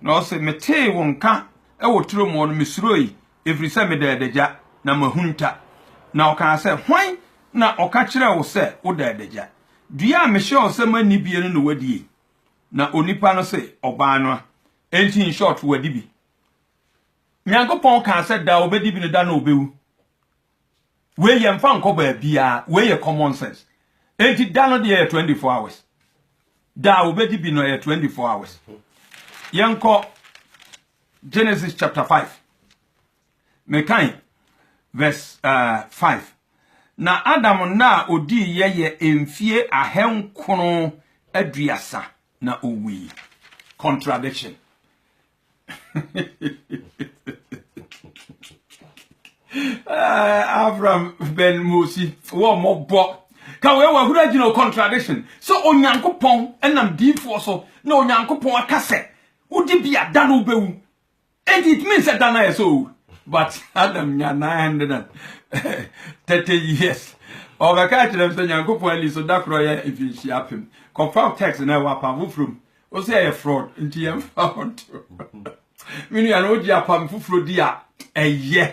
Na ɔse, metee wo nka wɔ turom hɔ no, mesuroi, ɛfiri sɛ meda adagya, na m'ahunta. Na ɔkaa sɛ, Hwan na ɔka kyerɛɛ wo sɛ woda adagya? Dua a mehyɛɛ wo sɛ manni bie no na woadi ei? Na onipa no se, Ɔbaa no a. Enti in short, wadi bi. Nyankopɔn kaa sɛ da a ɔbɛdi bi no da no ɔbɛwu. Wei yɛmfa nkɔ baabiara, wei yɛ common sense. Enti da no deɛ yɛ 24 hours. Da a wɔbɛdi bi no yɛ 24 hours. Yɛnkɔ Genesis chapter 5. Mekan verse uh, 5. Na Adam nna a ɔdii yɛ yɛ mfie ahenkron aduasa na ɔwui. Contradiction. Eh, Avram Ben Mosi, wɔn mo bɔ. Ka wei wɔ ahuru agyina o contradiction. So Onyankopɔn ɛnam diifoɔ so na Onyankopɔn aka sɛ wodi bi a da no wobɛwu. And it means that Dana is old. But Adam nya 930 years. ɔbɛka kyerɛ m sɛ nyankopɔn ani so da korɔ yɛ mfinhyia apem kɔfa text na ɛwɔ apa foforom o sɛ ɛyɛ fraud nti yɛn fa ho nto me nua no wogye apam foforɔ di a ɛyɛ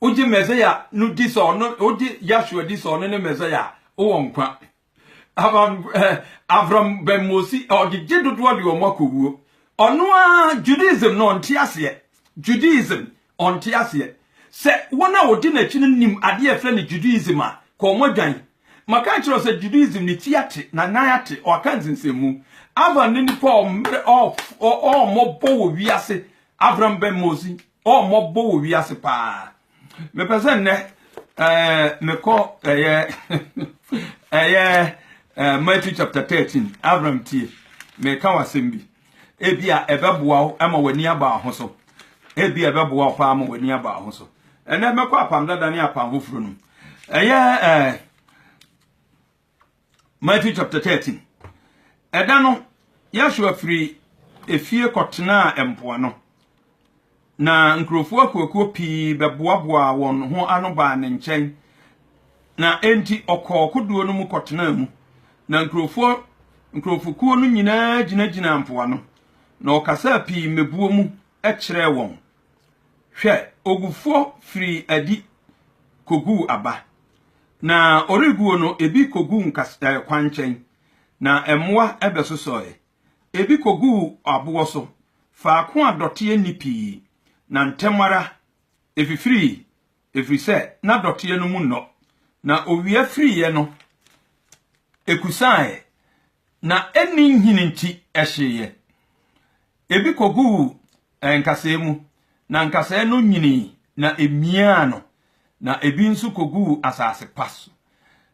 wogye mɛsɛya no di sɛ ɔno wogye yasua di sɛ ɔno ne mɛsɛya a wowɔ nkwa abam eh, avram bɛmmosi ɔde gye dodoɔ de wɔn akɔwuo ɔno a judaism no ɔnte aseɛ judaism Ɔnte aseɛ. Sɛ wɔn a wɔdi n'akyi no nim adeɛ a yɛfrɛ no Judaism a, kɔ wɔn adwan. Maka akyerɛ wo sɛ Judaism ne ti ate, na nan ate, ɔaka nsensɛnmu. Avan ne nipa a ɔmmerɛ, ɔɔf, ɔɔ mmɔbɔ wɔ wiase, Avram Ben Mosi, ɔɔ mmɔbɔ wɔ wiase paa. Mepɛ sɛ nnɛ ɛɛ mekɔ ɛyɛ ɛyɛ ɛɛ Matthew chapter 13, Avram tie, meka w'asɛm bi. Ebia ɛbɛboa wo ma w'ani aba wo ho so. Ebia ɛbɛboa wo paa ma w'ani aba wo ho so. Ɛnɛ mɛkɔ apam dada ne apam foforɔ no mu. Ɛyɛ ɛɛ eh, Matthew chapter thirteen. Ɛda no Yasua firi efie kɔtenaa mpoano. Na nkurɔfoɔ akuakuo pii bɛboaboaa wɔn ho ano baa ne nkyɛn, na enti ɔkɔɔ kodoɔ no mu kɔtenaa mu. Na nkurɔfoɔ nkurɔfokuo no nyinaa gyinagyinaa mpoano, na ɔkasaa pii mmebuo mu kyerɛɛ wɔn. Hwɛ, ogufoɔ firii adi kɔguu aba, na ɔreguo no ebi kɔguu nkas ɛɛ kwankyɛn, na mmoa bɛsosɔeɛ. Ebi kogu wo aboɔ so, faako a dɔteɛ nni pii, na ntɛm ara efifirii, ɛfiri sɛ na dɔteɛ no mu nnɔ. Na owia firiiɛ no, ɛkusaaeɛ, na ɛnni nhini nti, ɛhyeeɛ. Ebi koguu Nkasɛɛ mu, na nkasɛɛ no nyinii na emiaa no, na ebi nso koguu asase pa so,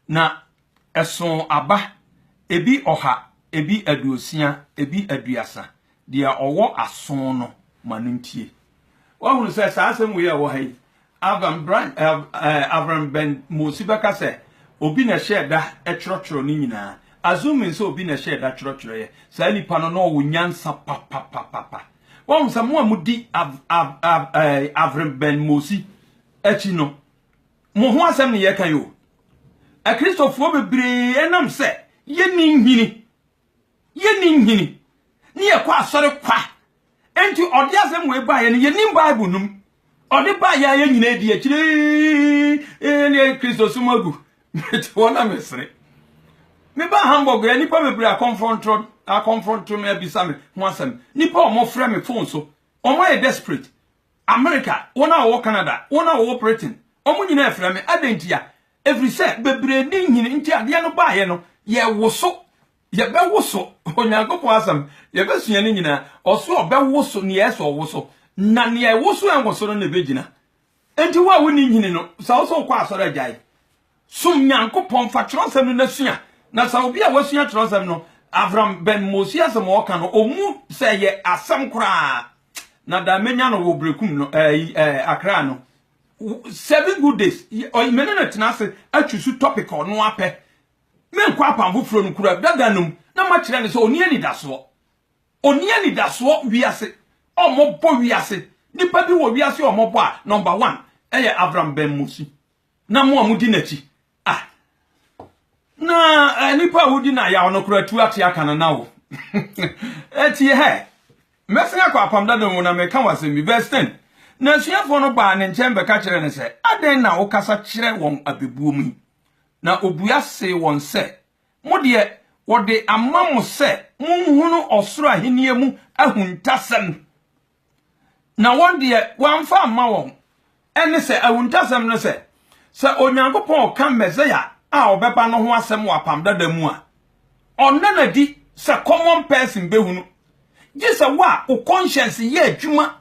na ɛsoo aba, ebi ɔha, ebi aduosia, ebi aduasa. Deɛ ɔwɔ aso no, ma no ntie. Woahunu sɛ saa asɛm wei a ɛwɔ ha yi, Avram Brand, eh, Avram Ben Mosi bɛka sɛ obi na ɛhyɛɛ da twerɛtwerɛ no nyinaa. Assuming sɛ obi na ɛhyɛɛ da twerɛtwerɛeɛ, saa nipa no na ɔwɔ nyansa papapapapa. Wahu sɛ mo a modi Av, Av, Av, eh, Avram Ben Mosi akyi no, mo ho asɛm ne yɛka yi o. Akristofoɔ bebree ɛnam sɛ yɛnni nhini Yɛnni nhini ne yɛkɔ asɔre kwa. Enti ɔde asɛm wei baeɛ no, yɛnim Bible no mu. Ɔde baeɛ a yɛn nyinaa di akyire ne Kristosom agu. Mete hɔ na mesere. Mebaa Hamburg yɛ nnipa bebree akɔmfrɔntrɔ akɔmfrɔnto me abisa me ho asɛm. Nnipa a wɔfrɛ me fon so, wɔn ayɛ desperate. America, wɔn a wɔwɔ Canada, wɔn a wɔwɔ Britain, wɔn nyinaa frɛ me. Adɛn ntia? Ɛfiri sɛ bebree nni nhini nti adeɛ no baeɛ no, yɛwoso, yɛbɛwoso, Onyankopɔn asɛm, yɛbɛsua ne nyinaa, ɔse ɔbɛwoso nea ɛsɛ sɛ ɔwoso, na nea ɛwoso a ɛnwoso no na ɛbɛgyina. Enti wo a wonni nhini no, sɛ wo sɛ wokɔ asɔre agyae, som Nyankopɔn, fa twerɛsɛm no na sua, na sɛ obi a wasua twerɛsɛm no, Avram Ben Mosi asɛm a ɔka no, ɔmu sɛ ɛyɛ asɛm koraa, na da mɛnya no wɔ Berekum no, ɛɛ, ɛɛ, Accra no, Seven good days. Ɔyɛ me ne no tena ase atwi so topic a ɔno apɛ. Menkɔ apam foforɔ no kura dada no mu na makyerɛ no sɛ ɔni anidasoɔ. Ɔni anidasoɔ wiase. Ɔmmɔbɔ wiase. Nipa bi wɔ wiase ɔmmɔbɔ a number one ɛyɛ Avram Benmosi na mo a modi n'akyi Ah. Na eh, nipa a wodi na yaw no kora tu ate aka no na wo. Eti hɛ. Mɛsen akɔ apam dada mu na meka wɔ asɛm bi. Verse 10. Na asuafoɔ no baa ne nkyɛn bɛka kyerɛ no sɛ, Adɛn na wokasa kyerɛ wɔn abɛbuo mu yi? Na obua see wɔn sɛ, Mo deɛ, wɔde ama mo sɛ monhunu ɔsoro ahennie mu ahuntasɛm. na wɔn deɛ wɔamfa amma wɔn ne sɛ ahuntasɛm no sɛ, sɛ Onyankopɔn reka Mesia a ɔbɛba no ho asɛm wɔ Apam Dada mu a, ɔnna no adi sɛ common person bɛhu no, gye sɛ wo a wo conscience yɛ adwuma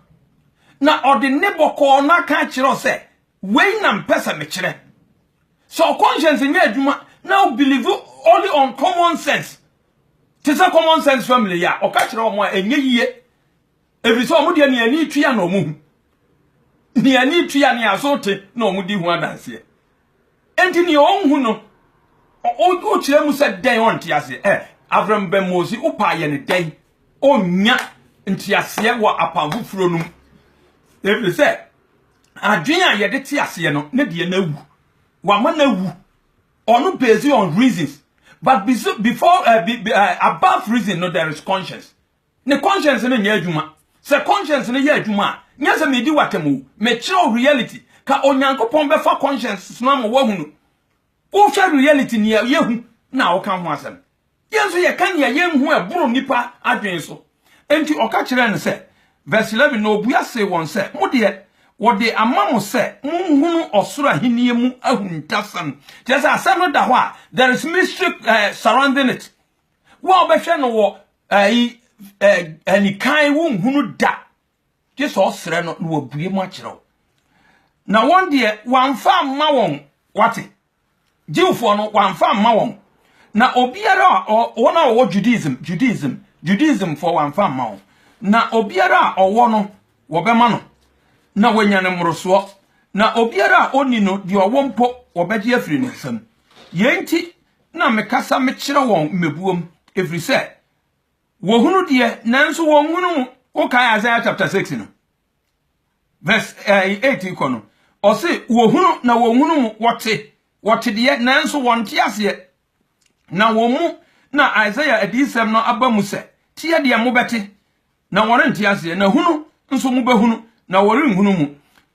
na ɔde nne bɔkɔɔ no aka akyerɛ wo sɛ wei na mpɛ sɛ mekyerɛ. Sɛ wo conscience nyɛ adwuma na wo believe only on common sense, te sɛ common sense family yi a ɔka kyerɛ wɔn a ɛnyɛ yie Efisɛ wɔn deɛ nea ani tua na wɔhu, nea ani tua nea aso te na wɔn di ho adanseɛ. Enti nea ɔnhu no, wokyerɛ mu sɛ dɛn ɔnte aseɛ? Ɛ Avram Ben Mosi, wopaa yɛ no dɛn ɔnnya nteaseɛ wɔ apam foforɔ no mu? Efisɛ adwene a yɛde te aseɛ no ne deɛ no awu. Wama no awu. Ɔno based on reasons. But before, uh, be, uh, above reason no, there is conscience. Ne conscience no nyɛ adwuma. Sɛ conscience no yɛ adwuma a, nyɛ sɛ medi w'atam o, mekyerɛw reality. Ka Onyankopɔn bɛfa conscience no ama woahu no. Wohwɛ reality, nea yehu, na woka ho asɛm. Yɛn nso yɛka nea yenhu a ɛboro nnipa adwene so. Enti ɔka kyerɛɛ no sɛ, verse 11, Na obua see wɔn sɛ, Mo deɛ, wɔde ama mo sɛ monhunu ɔsoro ahenni mu ahuntasɛm. Kyerɛ sɛ, asɛm no da hɔ a, there is mystery surrounding it. Wo a wobɛhwɛ no wɔ ayi anikan wonhunu da gye sɛ ɔsrɛ no na wabue mu akyerɛ wo na wɔn deɛ wamfa mma wɔn wate Jewfoɔ no wamfa mma wɔn na obiara a wɔn a wɔwɔ Judaism Judaism Judaism foɔ wamfa mma wɔn na obiara a ɔwɔ no wɔbɛma no na wanya ne mmorosoɔ na obiara a ɔnni no deɛ ɔwɔ mpo wɔbɛgye afiri ne nsam yɛn nti na mekasa mekyerɛ wɔn mmebuom, ɛfiri sɛ wɔhunu deɛ nanso wɔnhunu mu. Wokae Isaiah chapter 6 no verse 8 eh, kɔ no, ɔse wɔhunu na wɔnhunu mu, wɔte wɔte deɛ nanso wɔnte aseɛ na wɔn mu na Isaiah adiyisɛm no aba mu sɛ, teɛ deɛ mobɛte na wɔrente aseɛ, na hunu nso mobɛhunu, na wɔrenhunu mu,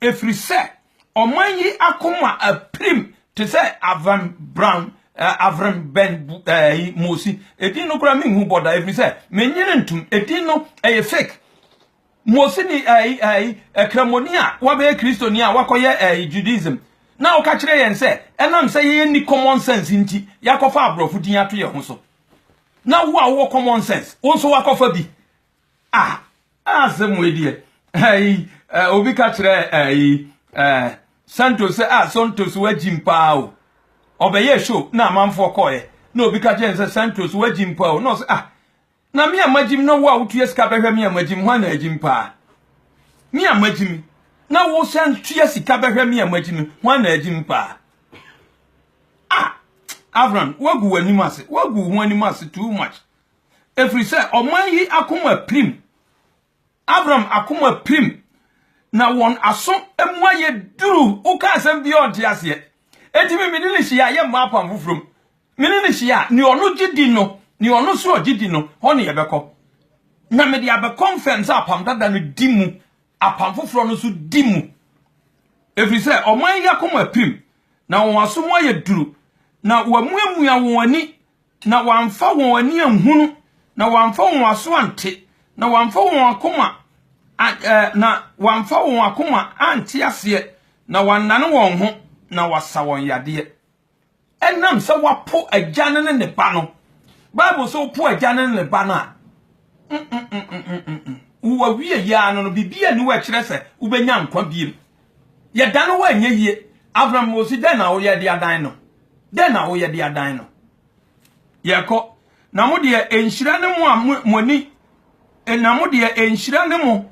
ɛfiri sɛ ɔman yi akoma apirim te sɛ avɛnbran averembɛn ɛyi mosi edin no koraa menhu bɔ da ɛfiri sɛ menyere ntom edin no ɛyɛ fake mosi ni ɛyi ɛyi ɛkramoni a wabɛyɛ kristoni a wakɔyɛ ɛyi judaism na ɔka kyerɛ yɛn sɛ ɛnam sɛ yɛyɛ ni common sense nti yɛakɔfa aborɔfo din ato yɛn ho so na wo a wowɔ common sense wo nso wakɔfa bi ah asɛm wei deɛ ɛyi obi ka kyerɛ ɛyi ɛɛ santos sɛ ah santos wagyim paa o ɔbɛyɛ show na amanfoɔ kɔɛ na obi ka kyerɛ sɛ santos wagyim paa o na ɔsɛ ah na me a magyim na wo a wotua sika bɛhwɛ me a magyim hwan na agyim paa me a magyim na wo sɛ tua sika bɛhwɛ me a magyim hwan na agyim paa ah Avram woagu w'anim ase woagu ho anim ase too much ɛfiri sɛ ɔman yi akoma pirim Avram akoma pirim na wɔn aso mu ayɛ duru woka asɛm bi ɔnte aseɛ enti me mene ne hyia yɛ mmaa apam foforɔ mu mene ne hyia ne ɔno gye di no ne ɔno so ɔgye di no hɔ ne yɛbɛkɔ na mede abɛkɔ mfɛm sɛ apam dada no di mu Apam Foforɔ no nso di mu, ɛfiri sɛ ɔman yi akoma apirim, na wɔn aso mu ayɛ duru, na wɔamuamua wɔn ani, na wɔamfa wɔn ani anhunu, na wɔamfa wɔn aso ante, na wɔamfa wɔn akoma na wɔamfa wɔn akoma ante aseɛ, na wɔannane wɔn ho, na wɔasa wɔn yadeɛ. Ɛnam sɛ wɔapo Agya no ne ne Ba no. Bible sɛ wopo Agya no ne ne Ba no a, wo awie yɛ ara no, biribi ani wɔ ɛkyerɛ sɛ wobɛnya nkwa biem. Yɛda no hɔ ɛnyɛ yie. Avram wɔsi dɛn na woyɛ de adan no? Dɛn na woyɛ de adan no? Yɛkɔ na mo deɛ ɛnhyira ne mo a mo ani na mo deɛ ɛnhyira ne mo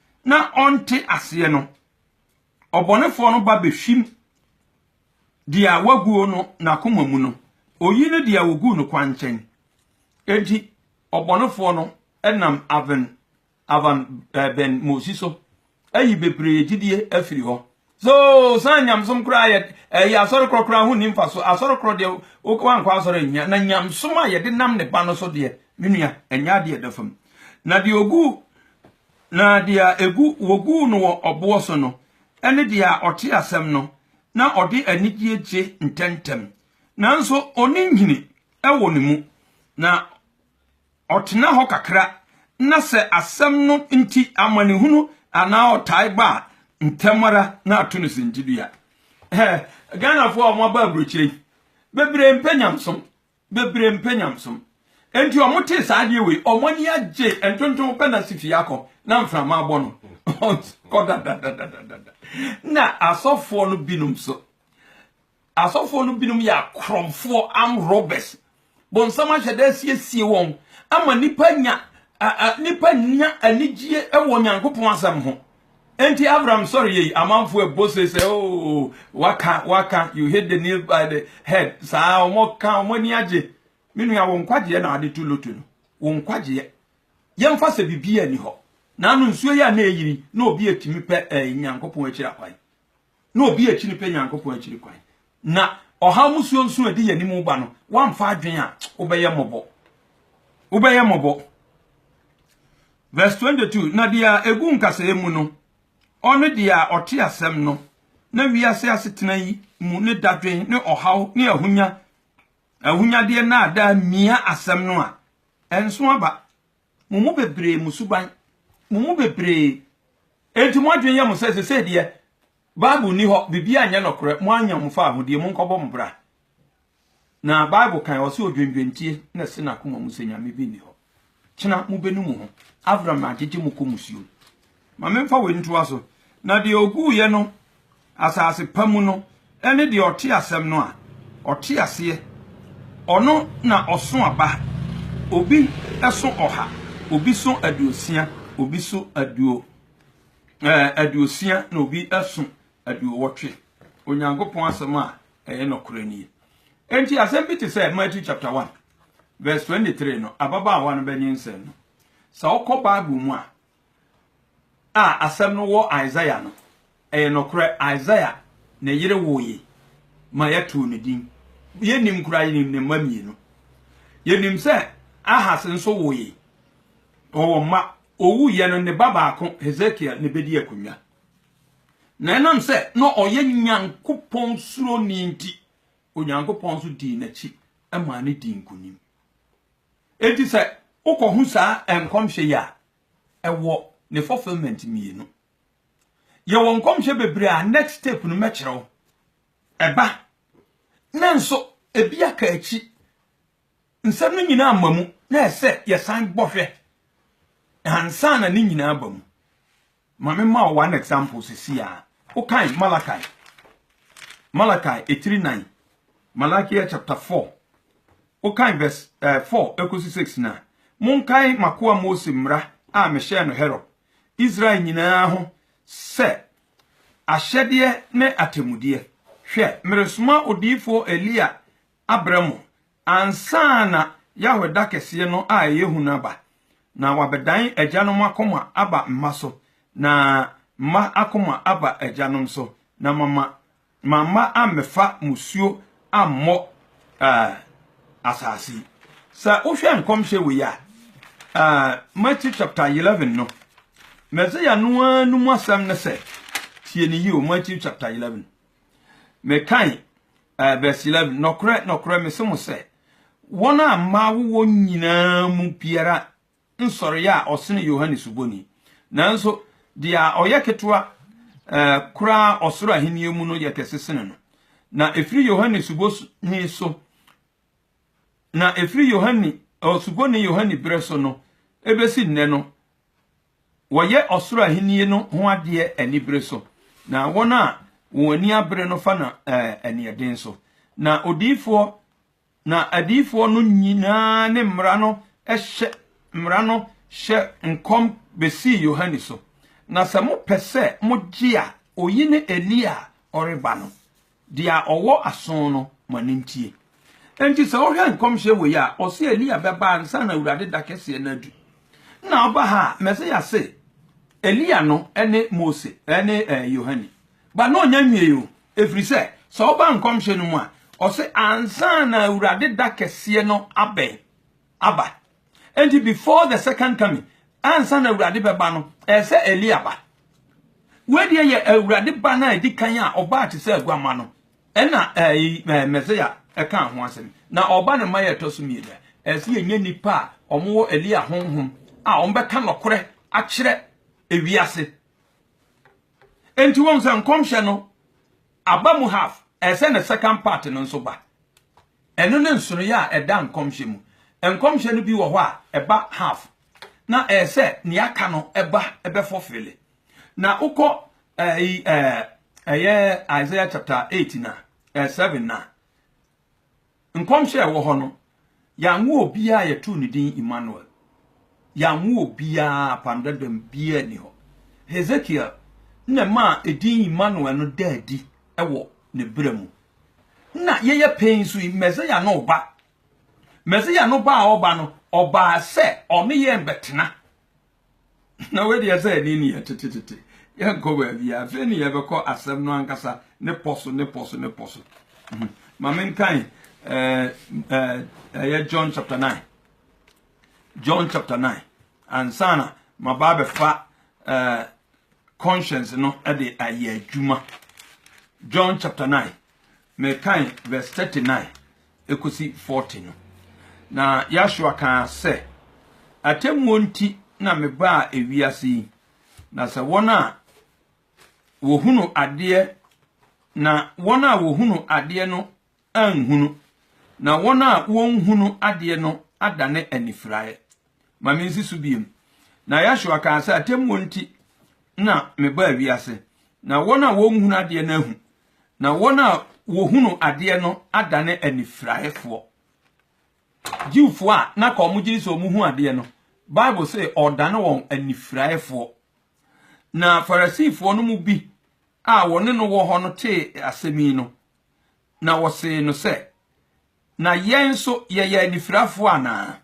na ɔnte aseɛ no, ɔbɔnefoɔ no ba bɛhwim deɛ waguo no n'akoma mu no, ɔyi no deɛ wɔguu no kwankyɛn. Enti ɔbɔnefoɔ no nam aven avan eh, bɛn mosi so ayi bebree gyidie afiri hɔ so san nyamsom koraa yɛ ɛyɛ asɔre korɔ koraa ho nimfa so asɔre korɔ deɛ wankɔ asɔre nyia na nyamsom a yɛde nam ne ba no so deɛ me nua ɛnyɛ adeɛ da fam na deɛ ogu Na deɛ egu, wɔguu no wɔ ɔboɔ so no, ne deɛ a ɔte asɛm no, na ɔde anigyeɛ gye ntɛmntɛm, nanso ɔnni nhini wɔ ne mu, na ɔtena hɔ kakra, na sɛ asɛm no nti amanehunu anaa ɔtae ba a, ntɛm ara na ato no sintidua. Hɛ, Ghanafoɔ a wɔaba aburokyire yi, bebree mpɛ nyamesom. Bebree mpɛ nyamesom. Enti wɔtee saa adeɛ wei, wɔn ani agye, ntontom pɛ na si fie akɔ, na mframa abɔ no. Kɔ dadadadadada. Na asɔfoɔ no binom nso, asɔfoɔ no binom yɛ akorɔmfoɔ, armed robbers. Bonsam ahyɛ da asiesie wɔn ama nipa nya, a, a, nipa nya anigyeɛ wɔ Nyankopɔn asɛm ho. Enti Abram sɔre yei, amanfoɔ ɛbɔ se sɛ, Oo, waka, waka, you hit the nail by the head. Saa, wɔka, wɔn ani agye. Me nua, wo nkwagyeɛ na wode to loto no. Wo nkwagyeɛ. Yɛmfa sɛ biribiara nni hɔ. Naano nsuo yi a na ɛreyiri, na obi atumi pɛ ɛɛ Nyankopɔn akyiri akwan. na obi a akyi no pɛ Nyankopɔn akyiri kwan, na ɔhaw mu suonsuo a ɛde yɛn anim ba no, woamfa adwene a, wobɛyɛ mmɔbɔ. Wobɛyɛ mmɔbɔ. Verse 22, na deɛ a ɛgu nkasɛɛ mu no, ɔne deɛ a ɔte asɛm no, na wiase asetena yi mu ne dadwen ne ɔhaw ne ahonya ahonyadeɛ nnaadaa mia asɛm no a, ɛnso aba. Mo mu bebree, mo suban, mo mu bebree, enti mo adwene yɛ mo sɛ sesei deɛ Bible nni hɔ, biribiara nyɛ nɔkorɛ, moanya mo faahodie, monkɔbɔ mo bra. Na Bible kan, ɔse odwendwentie na ɛse n'akoma mu sɛ Nyame bi nni hɔ. Kyena mobɛnu mo ho, Avram agyegye mo kɔ musuom. Ma memfa wei ntoa so, Na deɛ ɔguiɛ no asase pa mu no ne deɛ ɔte asɛm no a, ɔte aseɛ, ɔno na ɔso aba, obi so ɔha, obi so aduosia, obi so aduo, ɛɛ, aduosia, na obi so aduowɔtwe. Onyankopɔn asɛm a ɛyɛ nɔkorɛ nie. Enti asɛm bi te sɛ Matthew chapter 1 verse 23 no, ababaawa no bɛnyinsɛn no, sɛ wokɔ Bible mu a, a asɛm no wɔ Isaiah no, ɛyɛ nokorɛ, Isaiah ne yere woeɛ ma yɛtoo no din. Yɛnnim koraa, yɛnim ne mma mmienu. Yɛnim sɛ Ahas nso woeɛ, ɔwɔ mma. Ɔwuiɛ no, ne ba baako, Hesekiel, na ɛbɛdii akonnwa. Na ɛnam sɛ na ɔyɛ Nyankopɔn suroni nti, Onyankopɔn nso dii n'akyi maa no dii nkonim. Enti sɛ wokɔhu saa nkɔmhyɛ yi a, ɛwɔ ne fulfillment mmienu. Yɛwɔ nkɔmhyɛ bebree a next step no mɛkyerɛ wo. Ɛba. Na nso ebi aka akyi. Nsɛm no nyinaa mma mu na ɛsɛ yɛsan bɔhwɛ ansa na ne nyinaa ba mu. Ma me ma wo one example sisi a. Wokan Malachi, Malachi etiri nan, Malachi chapter four, wokan verse eh, four ekosi six na. Monkae makoa Mose mmara a mehyɛɛ no Herod, Israel nyinaa ho sɛ ahyɛdeɛ ne atemmudeɛ. Hwɛ, meresoma odiyifoɔ Elia abrɛ mo ansa na Yahweh da kɛseɛ no a ɛyɛ hu no aba, na wɔabɛdan agyanom akoma aba mma so, na mma akoma aba agyanom so, na mama ma mma ammɛfa mmusuo ammɔ ɛɛ asase yi. Sɛ wohwɛ nkɔmhyɛ wei a, ɛɛ Matthew chapter eleven no, Mɛseya no ara no mu asɛm ne sɛ, tie ne yie o, Matthew chapter eleven. Mekae, ɛɛ, verse 11, Nɔkorɛ, nɔkorɛ, mese mo sɛ, wɔn a mmaa wowɔ nyinaa mu biara nsɔreɛ a ɔsene Yohane Suboni, nanso deɛ a ɔyɛ ketewa ɛɛ, koraa ɔsoro ahennie mu no yɛ kɛse sene no. Na ɛfiri Yohane Suboni so, na ɛfiri Yohane, ɔ, Suboni Yohane berɛ so no, ɛbɛsi nnɛ no, Wɔyɛ ɔsoro ahenni no ho adeɛ anibere so, na wɔn a wɔn ani abere no fa no aniɛden so. Na odiyifoɔ na adiyifoɔ no nyinaa ne mmara no hyɛ mmara no hyɛ nkɔm bɛsii Yohane so. Na sɛ mopɛ sɛ mogye a, oyi ne Elia a ɔreba no. Deɛ ɔwɔ aso no, ma no ntie. Enti sɛ wohwɛ nkɔmhyɛ wei a, ɔse Elia bɛba ansa na Awurade da kɛseɛ no adu. Na ɔba ha a, Mesia se Elia no ne Mose ne Yohane. Ba na ɔnya nwiei o, ɛfiri sɛ, sɛ woba nkɔmhyɛ no mu a, ɔse ansa na Awurade da kɛseɛ no abɛn aba. Enti before the second coming, ansa na Awurade bɛba no, ɛyɛ sɛ Elia ba. Wei deɛ yɛ Awurade ba no a ɛdi kan a ɔbaa te sɛ aguama no, ɛna Mesia ɛka ho asɛm. Na ɔba no ma yɛ ɛtɔ so mmienu a, ɛyɛ sɛ yɛnyɛ nnipa a wɔwɔ Elia honhom a wɔbɛka nɔkorɛ akyerɛ ewiase. Enti wɔn sɛ nkɔmhyɛ no aba mu half, ɛyɛ sɛ ne second part no nso ba. Ɛno ne nsonoeɛ a ɛda nkɔmhyɛ mu. Nkɔmhyɛ no bi wɔ hɔ a ɛba half na ɛyɛ sɛ nea aka no ɛba ɛbɛ fulfille. Na wokɔ ɛyi ɛɛ ɛyɛ Isaiah chapter eight na ɛɛ seven na nkɔmhyɛ a ɛwɔ hɔ no yanwo obiara a yɛtoo ne din Emmanuel. Yanwo obiara apam dadam biara nni hɔ. Hesekiel na ɛmaa edin Emmanuel no daa adi wɔ ne berɛ mu. na yɛyɛ pɛn nso yi, Mesia no reba. Mesia no ba a ɔba no, ɔbaa sɛ ɔne yɛn bɛtena. Na wei deɛ sɛ ɛne ne yɛ tetetete. Yɛnkɔ baabi a, afei ne yɛbɛkɔ asɛm no ankasa ne pɔ so ne pɔ so ne pɔ so. Ma menkan ɛyɛ John chapter 9. John chapter nine ansa na maba abɛfa ɛɛ eh, conscience no ɛde ayɛ adwuma John chapter nine mekan verse thirty nine ekosi forty no na Yahshua kan sɛ atemmuo nti na mebaa ewiase yi na sɛ wɔn a wɔhunu adeɛ na wɔn a wɔhunu adeɛ no anhunu, na wɔn a wɔnhunu adeɛ no adane anifiraeɛ. Ma mensi so bio. Na Yahshua kaa sɛ, Atemmuo nti na mebaa wiase, na wɔn a wɔnhunu adeɛ no ahu, na wɔn a wɔhunu adeɛ no adane anifiraeɛfoɔ. Jewfoɔ a na ka wɔn gyiri sɛ wɔn hu adeɛ no, Bible sɛ ɔdane wɔn anifiraeɛfoɔ. Na Farisifoɔ no mu bi a wɔne no wɔ hɔ no tee asɛm yi no, Na wɔsee no sɛ, Na yɛn nso yɛyɛ anifirafoɔ anaa?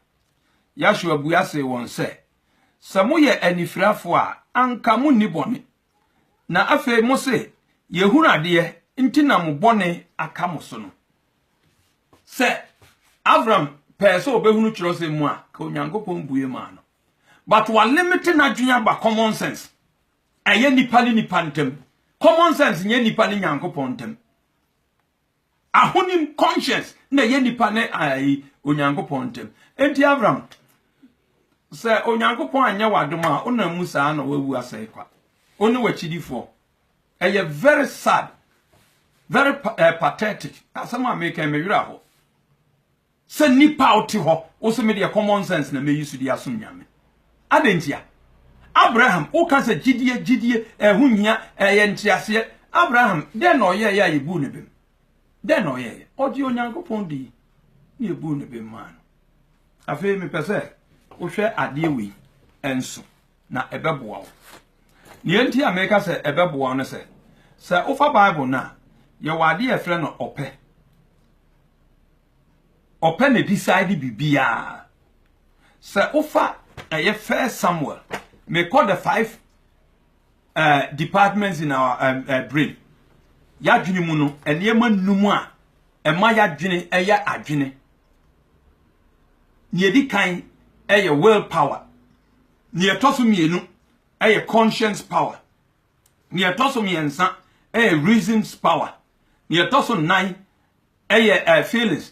Yahshua bua see wɔn sɛ, Sɛ moyɛ anifirafoɔ a, anka monni bɔne. Na afei mose, 'Yɛhunu adeɛ nti na mo bɔne aka mo so no. Sɛ Abram pɛɛ sɛ ɔbɛhunu twerɛsɛm mu a, ka Onyankopɔn bue maa no. But wa limite n'adwene aba common sense. Ɛyɛ nnipa ne nnipa ntam. Common sense nyɛ nnipa ne Nyankopɔn ntam. Ahonim conscience na ɛyɛ nnipa ne ayi Onyankopɔn ntam. Enti Avram, sɛ Onyankopɔn anyɛ w'adom a wonam mu saa na wawu asɛe kwa. Wo ne w'akyidifoɔ. Ɛyɛ very sad, very eh, pathetic. Asɛm a meka me werɛ hɔ. Sɛ nipa a wote hɔ, wo se me deɛ common sense na mɛyi so de asom Nyame. Adɛn ntia? Abraham, woka sɛ gyidie, gyidie, ɛho nhia, ɛyɛ nteaseɛ. Abraham, dɛn na ɔyɛeɛ a yɛbuu ne bem? Dɛn na ɔyɛeɛ? Ɔgyee Onyankopɔn dii na yɛbuu ne bem maa no. Afei mepɛ sɛ wohwɛ adeɛ wei nso na ɛbɛboa wo. Deɛ nti a meka sɛ ɛbɛboa wo no sɛ, sɛ wofa Bible no a, yɛwɔ adeɛ a yɛfrɛ no ɔpɛ. ɔpɛ na decide biribiara sɛ wofa ɛyɛ first samuel mekɔ the five uh, departments in our um, uh, brain yɛadwene mu no nneɛma nnum a ɛma yɛadwene ɛyɛ adwene nea ɛdi kan ɛyɛ will power nea ɛtɔ so mmienu ɛyɛ conscience power nea ɛtɔ so mmiɛnsa ɛyɛ reasons power nea ɛtɔ so nnan Ɛyɛ eh, feelings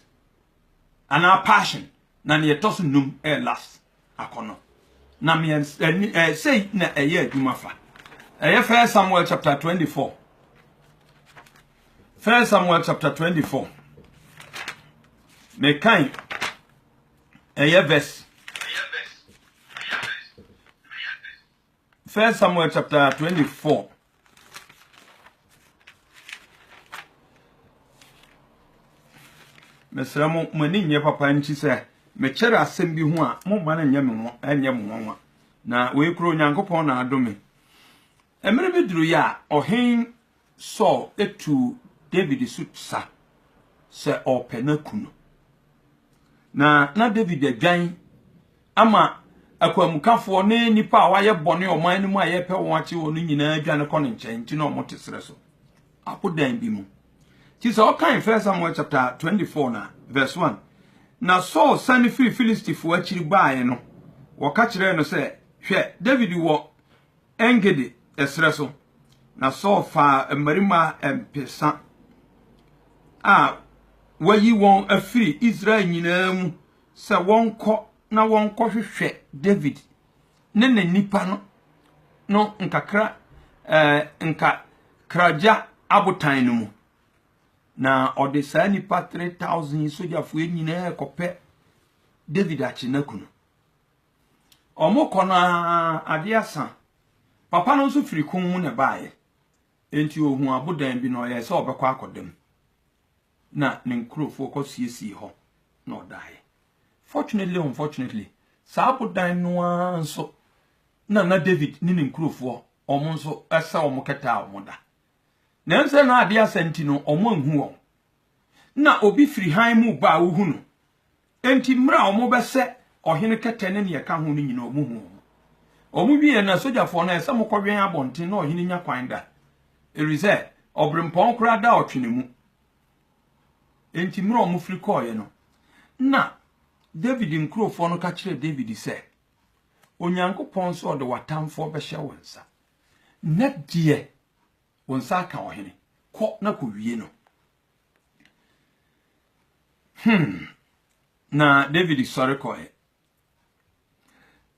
anaa passion na nea ɛtɔ so num eh, last akɔnɔ na mmiɛnsa ɛni eh, sei na ɛyɛ adwuma fa ɛyɛ First Samuel chapter 24 First Samuel chapter 24 mekan ɛyɛ verse First Samuel chapter 24. mesrɛ mo mo ani nyɛ papa nti sɛ mekyɛrɛ asɛm bi ho a mo mma no nyɛ me ho ɛnyɛ mo nwanwa na wei kuro onyankopɔn na adome mmerɛ bi duru yɛ a ɔhen Saul tuu Dawid so sa sɛ ɔrepɛ no aku no. Na na Dawid adwan ama akwanmukafoɔ ne nnipa a wɔayɛ bɔne ɔman no mu a yɛrepɛ wɔn akye wɔn no nyinaa dwane kɔ ne nkyɛn nti na wɔte serɛ so abodan bi mu. Nti sɛ ɔkan 1 Samuel chapter 24 na verse 1 na Saul sane firi Filistifoɔ akyiri baeɛ no, wɔka kyerɛɛ no sɛ, Hwɛ, Dawid wɔ En-Gedi serɛ so, na Saul faa mmarima mpesa a wayi wɔn afiri Israel nyinaa mu sɛ wɔnkɔ na wɔnkɔhwehwɛ Dawid ne ne nnipa no no nkakra eh, nkakragya abotan no mu. Na ɔde saa nnipa 3,000 sogyafoɔ nyinaa kɔpɛ Dawid akye n'akunu. Wɔkɔ no ara, adeɛ asa. Papa no nso firi kɔn mu na ɛbaeɛ. Enti ɔhuu abodan bi na ɔyɛɛ sɛ ɔbɛkɔ akɔda mu. Na ne nkurɔfoɔ kɔsiesiee hɔ na ɔdaeɛ. Fortunately or unfortunately, saa abodan no ara nso na na David ne ne nkurɔfoɔ wɔn nso sɛ wɔn kɛtɛ a wɔda. Nanso sɛ na adeɛ asa nti no, wɔanhu wɔn. Na obi firi hann mu ba a wohu no. Enti mmerɛ a wɔbɛsɛ ɔhene kɛtɛ ne deɛ ɛka ho no nyinaa wɔhuu wɔn. Wɔn wieɛ no, asogyafoɔ no, ɛsɛ mokɔwɛn abɔnten na ɔhene nya kwan da, ɛfiri sɛ ɔberempɔn koraa da ɔtwene mu. Enti mmerɛ a wɔfiri kɔeɛ no, na Dawid nkurofoɔ no ka kyerɛɛ Dawid sɛ, Onyankopɔn sɛ ɔde w'atamfoɔ bɛhyɛ wo nsa, na deɛ wo nsa aka ɔhene, kɔ na kɔwie no. Hmm. Na David sɔre kɔe.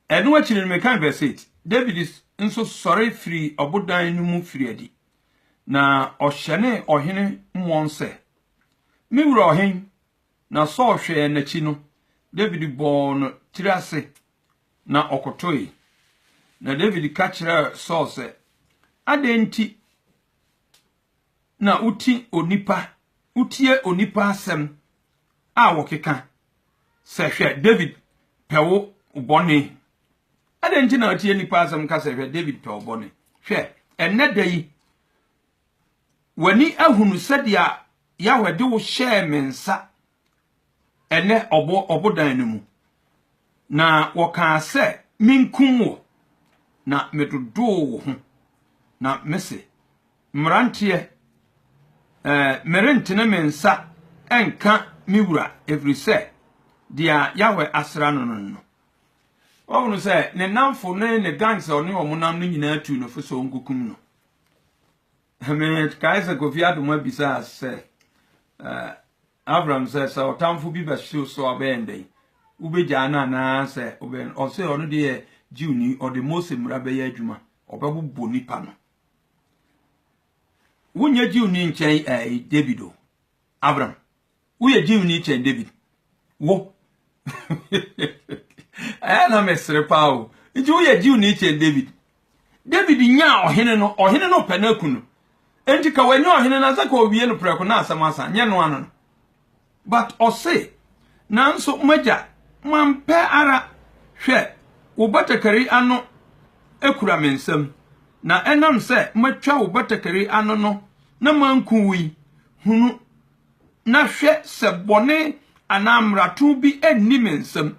Ɛno akyi no mekan verse 8. David nso sɔre firi ɔbodan no mu firi adi. Na ɔhyɛne ɔhene mmɔn sɛ, Me wura ɔhen! Na Saul hwɛɛ n'akyi no, David bɔɔ no tiri ase na ɔkotoe. Na David ka kyerɛɛ Saul sɛ, Adɛn nti na wote onipa, wotie onipa asɛm a wɔkeka sɛ, Hwɛ, David pɛ wo bɔne. Adɛn nti na wotie nnipa asɛm ka sɛ, Hwɛ, David pɛ wo bɔne? Hwɛ, ɛnnɛ da yi, w'ani ahunu sɛdeɛ Yahweh de wo hyɛɛ me nsa ɛnɛ ɔbo ɔbodan no mu, na wɔkaa sɛ menkum wo, na medodoo wo ho, na mese, mmeranteɛ, ɛɛ, merentene me nsa nka me wura, ɛfiri sɛ deɛ Yahweh asra no no no. Wɔhunu sɛ ne nnamfo ne ne gangs a ɔne wɔn nam no nyinaa tuu no fo sɛ ɔnkokum no. Mekae sɛ Kofi Adomah bisaa sɛ Avram sɛ, sɛ ɔtamfo bi bɛhye wo so a wobɛyɛ dɛn? Wobɛgyaa no anaa sɛ wobɛn? Ɔse ɔno deɛ yɛ Jewni, ɔde Mose mmara bɛyɛ adwuma, ɔbɛbobɔ nipa no. Wonyɛ Jewni nkyɛn ɛɛ David o, Avram, woyɛ gyimni kyɛn david wo ɛyɛ na mesere paa o nti woyɛ gyimni kyɛn david david nyaa ɔhene no ɔhene no pɛ no aku no nti ka wanyɛ ɔhene no sɛ ka owie no prɛko na asɛm asa nyɛ no ano no but ɔse nanso magya mampɛ ara hwɛ wo batakari ano ekura me nsam na ɛnam sɛ matwa wo batakari ano no na manku wo yi hunu na hwɛ sɛ bɔne anaa mmarato bi nni me nsam,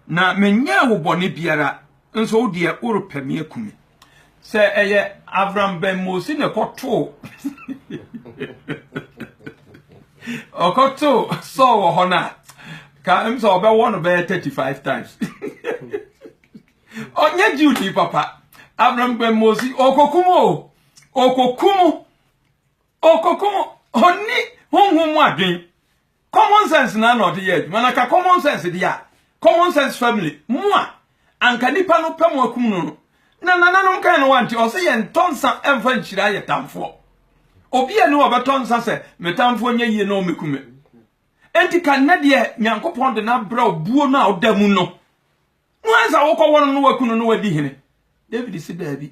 na menyɛɛ wo bɔne biara, nso wo deɛ, worepɛ me aku me. Sɛ ɛyɛ Avram Ben Mossi na ɛkɔtoo ɔkɔtoo Saul wɔ hɔ no a, ka m sɛ ɔbɛwɔ no bɛyɛ 35 times. Ɔnyɛ Jewni papa. Avram Ben Mossi, ɔkɔkum o, ɔkɔkum Ɔkɔkɔ ɔnni honhom mu adwen. Common sense na na ɔde yɛ adwuma na ka common sense deɛ a common sense family mo a anka nipa no pɛ mo akum no no na nananom kan no wante ɔsɛ yɛn tɔ nsa ɛmfa nhyira yɛ tamfoɔ obi a ni ɔbɛtɔ nsa sɛ me tamfoɔ nyɛ yie na ɔmɛku me enti ka nnɛ deɛ nyankopɔn de no abrɛ obuo no a ɔda mu no No ansa wokɔ wɔn no waku no na wadi hene. David si daabi.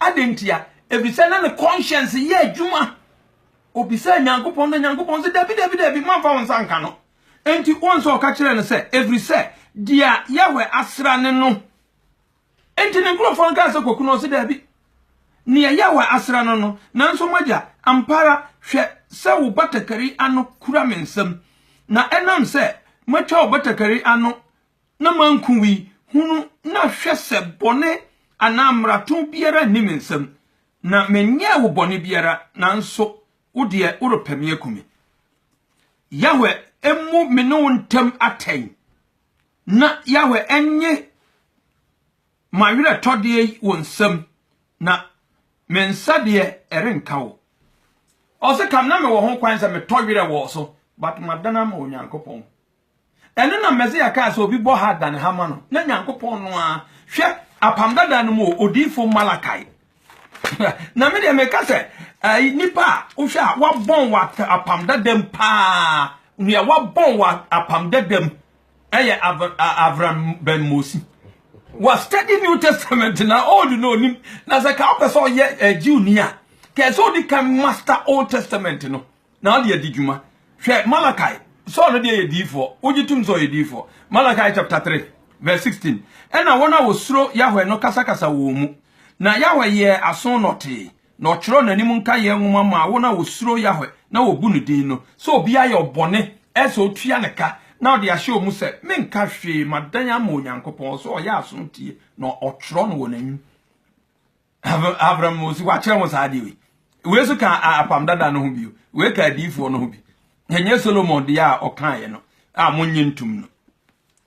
Adɛn ntia? Efisɛ na ne conscience yɛ adwuma. Obisaa Nyankopɔn na Nyankopɔn sɛ, Dabi, dabi, dabi, mamfa wo nsa nka no. Enti wɔn nso ɔka kyerɛɛ no sɛ, Ɛfiri sɛ deɛ Yahweh asra ne no. Enti ne nkurɔfoɔ no kaa sɛ, Kɔku no. Ɔse, Dabi, Nea Yahweh asra no no. Nanso m'agya, ampa ara, hwɛ sɛ wo batakari ano kura me nsam, na ɛnam sɛ matwa wo batakari ano na manku wo yi, hunu na hwɛ sɛ bɔne anaa mmarato biara nni me nsam, na menyɛɛ wo bɔne biara, nanso wo deɛ, worepɛ me aku me. Yahweh mmu me ne wo ntam atɛn, na Yahweh nnye M'awerɛtɔdeɛ yi wo nsam, na me nsa deɛ ɛrenka wo. Ɔse kam na mewɔ ho kwan sɛ metɔ werɛ wɔ wo so, but madan ama Onyankopɔn. Ɛno na Mɛsaya kaa sɛ obi bɔ ha a dane ha ma no, na Nyankopɔn no ara, hwɛ, Apam Dada no mu o, Odiyifo Malakai. na me deɛ meka sɛ, ɛyi, nipa a wohwɛ a wabɔn wɔ Apam Dadam paa, nea wabɔn wɔ Apam Dadam ɛyɛ abrabɛnmɔsi wa study new testament na old no onim na sɛ ka wopɛ sɛ ɔyɛ eh, jew ni a kɛ sɛ odi kan master old testament no na ɔde adi dwuma hwɛ malakai sɔɔ no deɛ yɛ diifoɔ wogye tom sɛ ɔyɛ diifoɔ malakai chapter 3 verse 16 ɛna wɔn a wɔsuro yahwɛ no kasakasa wɔn mu na yahwɛ yɛɛ aso nɔtee na ɔkyerɛw n'anim nkaeɛ nwoma maa wɔn a wɔsuro Yahweh na wɔbu ne din no, sɛ obi ayɛ wo bɔne ɛ sɛ ɔtua no ka, na ɔde ahyɛ wɔn mu sɛ, Menka hwee, madan ama Onyankopɔn, ɔsɛ ɔyɛ aso tie, na ɔtwerɛ no wɔ n'anim. Abram wɔsi wakyerɛ ho saa adeɛ wei. Wei nso ka apam dada no ho bio. Wei ka adiyifoɔ no ho bi. Ɛnyɛ Solomon deɛ a ɔkaeɛ no a monnye ntom no.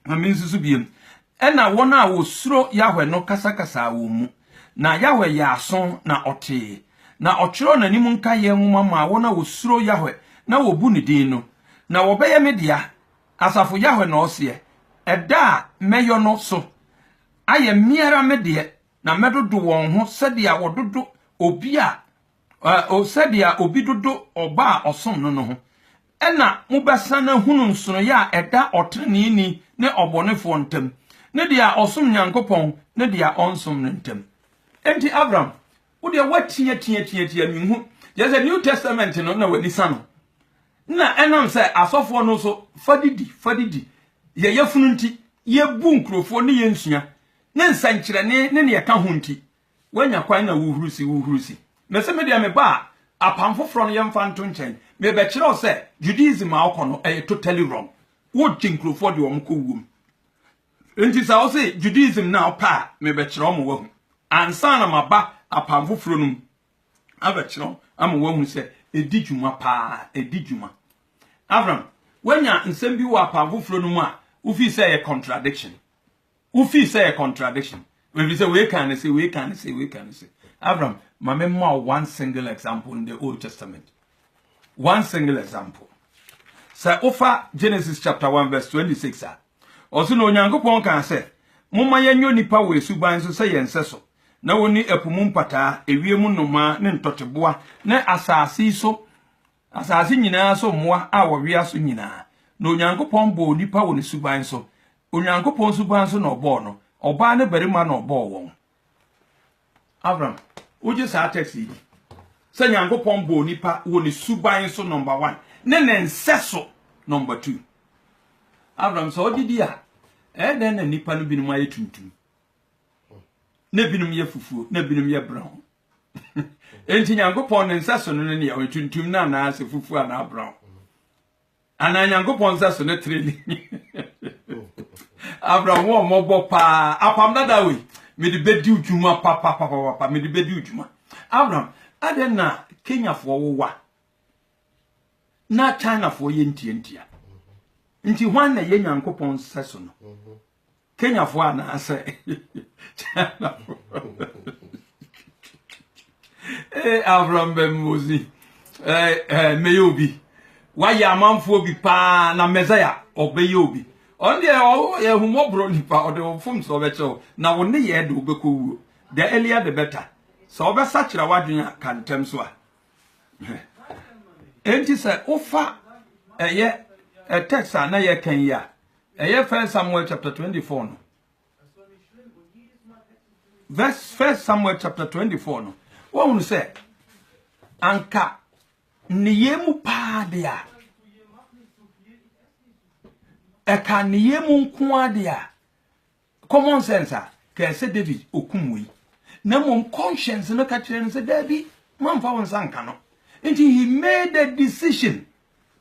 Ma minsusu bio. Ɛnna wɔn a wosuro Yahweh no kasakasaa wɔn mu. Na Yahweh yɛɛ aso, na ɔtee, na ɔkyerɛw n'anim nkaeyɛ nhoma maa wɔn a wosuro Yahweh na wobu ne din no, na wɔbɛyɛ me dea, asafo Yahweh na ɔseɛ. Ɛda a mɛyɔ no so ayɛ me ara me deɛ, na mɛdodo wɔn ho sɛdeɛ wɔdodo obi a O sɛdeɛ obi dodo ɔba a ɔsom no no ho! Ɛnna mobɛsan ahunu nsonoeɛ a ɛda ɔteneneeni ne ɔbɔnefoɔ ntam, ne deɛ a ɔsom Nyankopɔn ne deɛ a ɔnsom no ntam. Enti Abram, wo deɛ woateɛ teɛ teɛ teɛ menhu, kyerɛ sɛ New Testament no na w'ani sa no, na ɛnam sɛ asɔfoɔ no nso fa de di, fa de di, yɛ yafunu nti, yɛbu nkurɔfoɔ ne yɛnsua, ne nsɛnkyerɛnne ne nea ɛka ho nti, Woanya kwan na wohurusi, wohurusi. Mese, me deɛ meba a, apam foforɔ no yɛmfa nto nkyɛn, merebɛkyerɛ wo sɛ Judaism a wokɔ no ɛyɛ totally wrong. Wogye nkurɔfoɔ de wɔn kɔ wuom. Nti sɛ wose Judaism no a wopɛ a, merebɛkyerɛ wo ma woahu. Ansa na maba apam foforɔ no mu abɛkyerɛ wo ama woahu sɛ ɛdi dwuma paa, ɛdi dwuma. Avram, woanya nsɛm bi wɔ apam foforɔ no mu a wofii sɛ ɛyɛ contradiction? Wo feel sɛ yɛ contradiction. Ebi sɛ wei kan ne se, wei kan ne se, wei kan ne se. Abraham, ma me ma wo one single example in the Old Testament. One single example. Sɛ wofa Genesis chapter 1 verse 26 a, ɔse na Onyankopɔn kan sɛ, momma yɛnyɛ nipa wɔ esuban so sɛ yɛn sɛ so, na wɔni ɛpo mu mpataa, ewiem nnomaa ne ntɔteboa, ne asase so Asase nyinaa so mmoa a wɔwea so nyinaa. Na Onyankopɔn bɔɔ onipa wɔ ne suban so. Onyankopɔn suban so na ɔbɔɔ no. Ɔbaa ne barima na ɔbɔɔ wɔn. Avram, wogye saa text yi di? Sɛ Nyankopɔn bɔɔ onipa wɔ ne suban so, number one, ne ne nsɛso, number two. Avram, sɛ wogye di a, ɛyɛ dɛn na nnipa no binom ayɛ tuntum, na binom yɛ fufuo, na binom yɛ brown? Enti Nyankopɔn ne nsɛso no ne nea ɔyɛ tuntum no anaa sɛ fufuo anaa brown. Anaa Nyankopɔn nsɛso ne trele. Abraham wɔ mmɔbɔ paa. Apam dada wei. Mede bɛdi dwuma papapapapa. Mede bɛdi dwuma. Abraham, adɛn na Kenyafoɔ wowa na Chinafoɔ yɛ ntiantia? Nti hwan na ɛyɛ Nyankopɔn nsɛso no? Kenyafo anaasɛ Chinafo? Ee, Avram Bɛmmɔdzi, mɛyɛ obi. Wayɛ amanfoɔ bi paa na Mɛsaya ɔbɛyɛ obi. Ɔno deɛ ɔyɛ ahummɔborɔ nipa, ɔde wo mfomsoɔ bɛkyɛ wo, na wo nneyɛɛ de wobɛkɔ wuo. The earlier the better. Sɛ wobɛsakyera w'adwene a, ka ntɛm so a. Enti sɛ wofa ɛyɛ text a na yɛkan yi a, Ɛyɛ First Samuel chapter 24 no. Verse First Samuel chapter 24 no. Wɔhunu sɛ anka nneyɛɛ mu paa de a ɛka nneyɛɛ mu nko ara de a common sense a kɛsɛ David okum wei na mmom conscience no ka kyerɛ no sɛ daabi mamfa wo nsa nka no nti he made a decision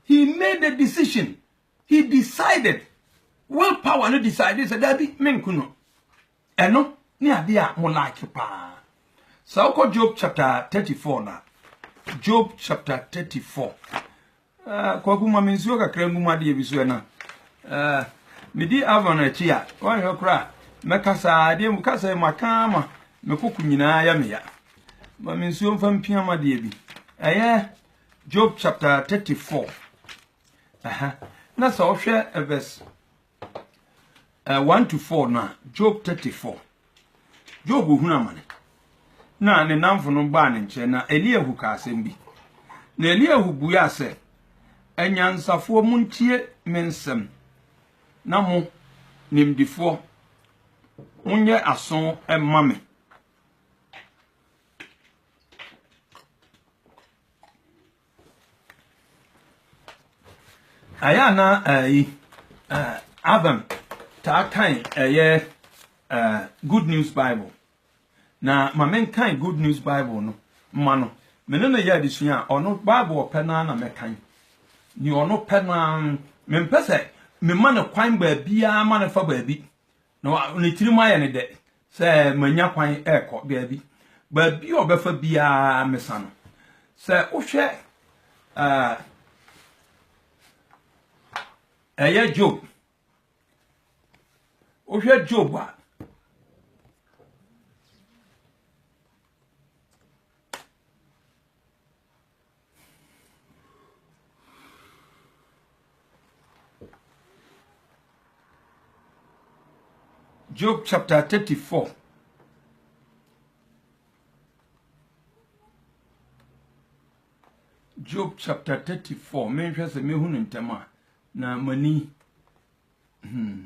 he made a decision He decided, will power no decided sɛ dabi menku no. Ɛno ne adeɛ a mo like paa. Sɛ wokɔ Job chapter 34 na Job chapter 34 uh, kwaku ma me nsuo kakra ngu mu adeɛ bi so ɛna uh, medi Avon akyi a wɔnhwɛ koraa mɛkasa adeɛ mu kasa mu aka ma mekoko nyinaa yɛ meya ma me nsuo mfa mpia ma adeɛ bi ɛyɛ Job chapter 34 Ɛhɛ. Na sɛ wohwɛ eh, verse eh, 1 to 4 no a, Job 34. Job hunu amane. Na ne namfo no baa ne nkyɛn na Eliahu ka asɛm bi. Na Eliahu buaa sɛ, Anyansafoɔ montie me nsɛm na mo nimdifoɔ monyɛ aso mma me. Ɛyɛ a na ɛyi Avram taa kan ɛyɛ Good News Bible na ma menkan Good News Bible no ma no me ne no yɛ adesua a ɔno Bible ɔpɛ no ara na mɛkan nea ɔno pɛ no ara mempɛ sɛ mema no kwan baabiara ma no fa baabi na ne tirim ayɛ ne dɛ sɛ manya kwan rekɔ baabi. Baabi a ɔbɛfa biara mesa no. Sɛ wohwɛ ɛyɛ Job, wohwɛ Job a, Job chapter 34. Job chapter 34. Menhwɛ sɛ mehu no ntɛm a na m'ani hmm.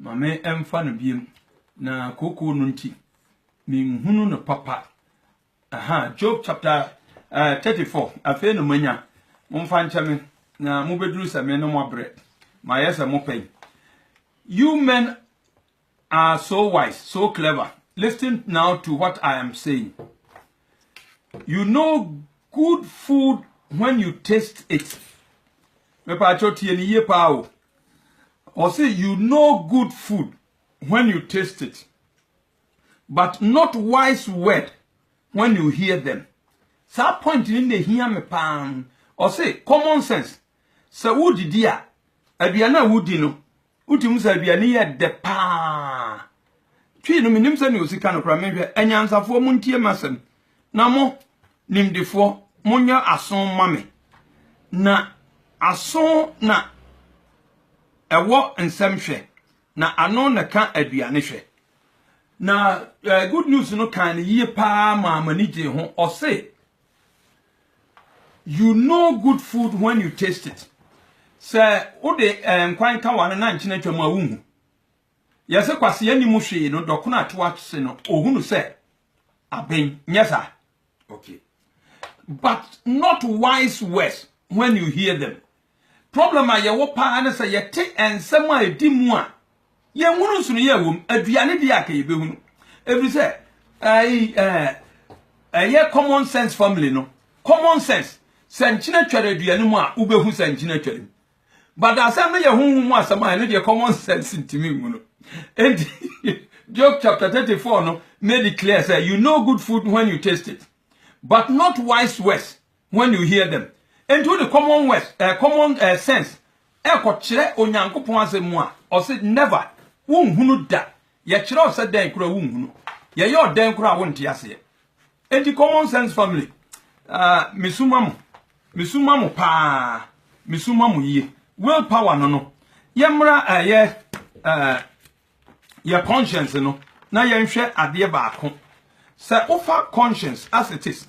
Ma me ɛmfa no biem na kookoo no nti menhunu no papa. Aha, Job chapter uh, eh, 34. Afei no manya, momfa nkyɛ me na mobɛduru sɛ me no moabrɛ. Mayɛ sɛ mopɛn. You men are so wise so clever listen now to what I am saying you know good food when you taste it mepaakyɛw tie ne yie paa o ɔse you know good food when you taste it but not wise word when you hear them saa point ni na ehia me paa ɔse common sense sɛ wodidi a aduane a wodi no Wotim sɛ aduane yi yɛ dɛ paa. Twi no, mennim sɛnea osi ka no koraa, menhwɛ. Anyansafoɔ, montie m'asɛm, na mo, nimdefoɔ, monyɛ aso mma me, na aso na ɛwɔ nsɛm hwɛ, na ano na ɛka aduane hwɛ. Na Good News no kaa no yie paa maa m'ani gyee ho. Ɔse, You know good food when you taste it. Sɛ wode eh, nkwan ka ware na nkyene atwa mu a wonhu. Yɛse kwasea ni mu hwee no dɔkono ato ase no ohunu sɛ aben nyɛ saa. Okay. But not wise words when you hear them. Problem a yɛwɔ paa ne sɛ yɛte nsɛm a ɛdi mu a yɛnhunu nsonoyɛ wɔ mu. Aduane deɛ aka yɛbɛhunu ɛfiri sɛ ɛyɛ common sense family no common sense sɛ nkyena twɛre aduane mu a wobɛhu sɛ nkyena twɛre mu but asɛm no yɛ honhom mu asɛm a ɛno deɛ common sense ntumi nhu no enti Job chapter 34 no made it clear sɛ you know good food when you taste it but not wise words When you hear them. Enti wode common words, eh, common eh, sense ɛrekɔkyerɛ Onyankopɔn asɛm mu a, ɔse never, wonhunu da. Yɛkyerɛ wo sɛ dɛn koraa wonhunu. Yɛyɛ ɔdɛn koraa wonte aseɛ. Enti common sense family, uh, mesuma mo, mesuma mo paa, mesuma mo yie. Will power no no, yɛmmra ɛyɛ uh, yɛ conscience no na yɛnhwɛ adeɛ baako sɛ wofa conscience as it is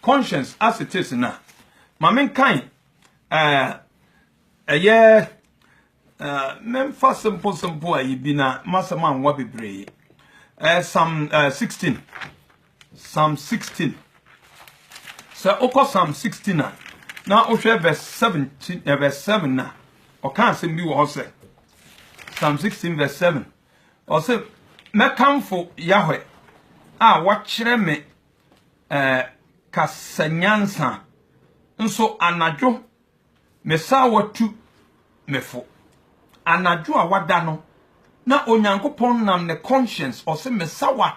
conscience as it is na ma menkan ɛɛ ɛyɛ ɛɛ memfa simple simple ayi bi na masɛm anwa bebree ɛɛ sam ɛɛ 16 Psalm sixteen. Sɛ wokɔ Psalm sixteen a, na wohwɛ verse seventeen eh, verse seven na ɔka asɛm bi wɔ hɔ sɛ Psalm sixteen verse seven. Ɔsɛ mɛkamfo Yahweh a wakyerɛ me ɛɛ eh, kasa nyansa nso anadwo mesaa watu me fo anadwo a wada no na onyankopɔn nam ne conscience ɔsɛ mesawa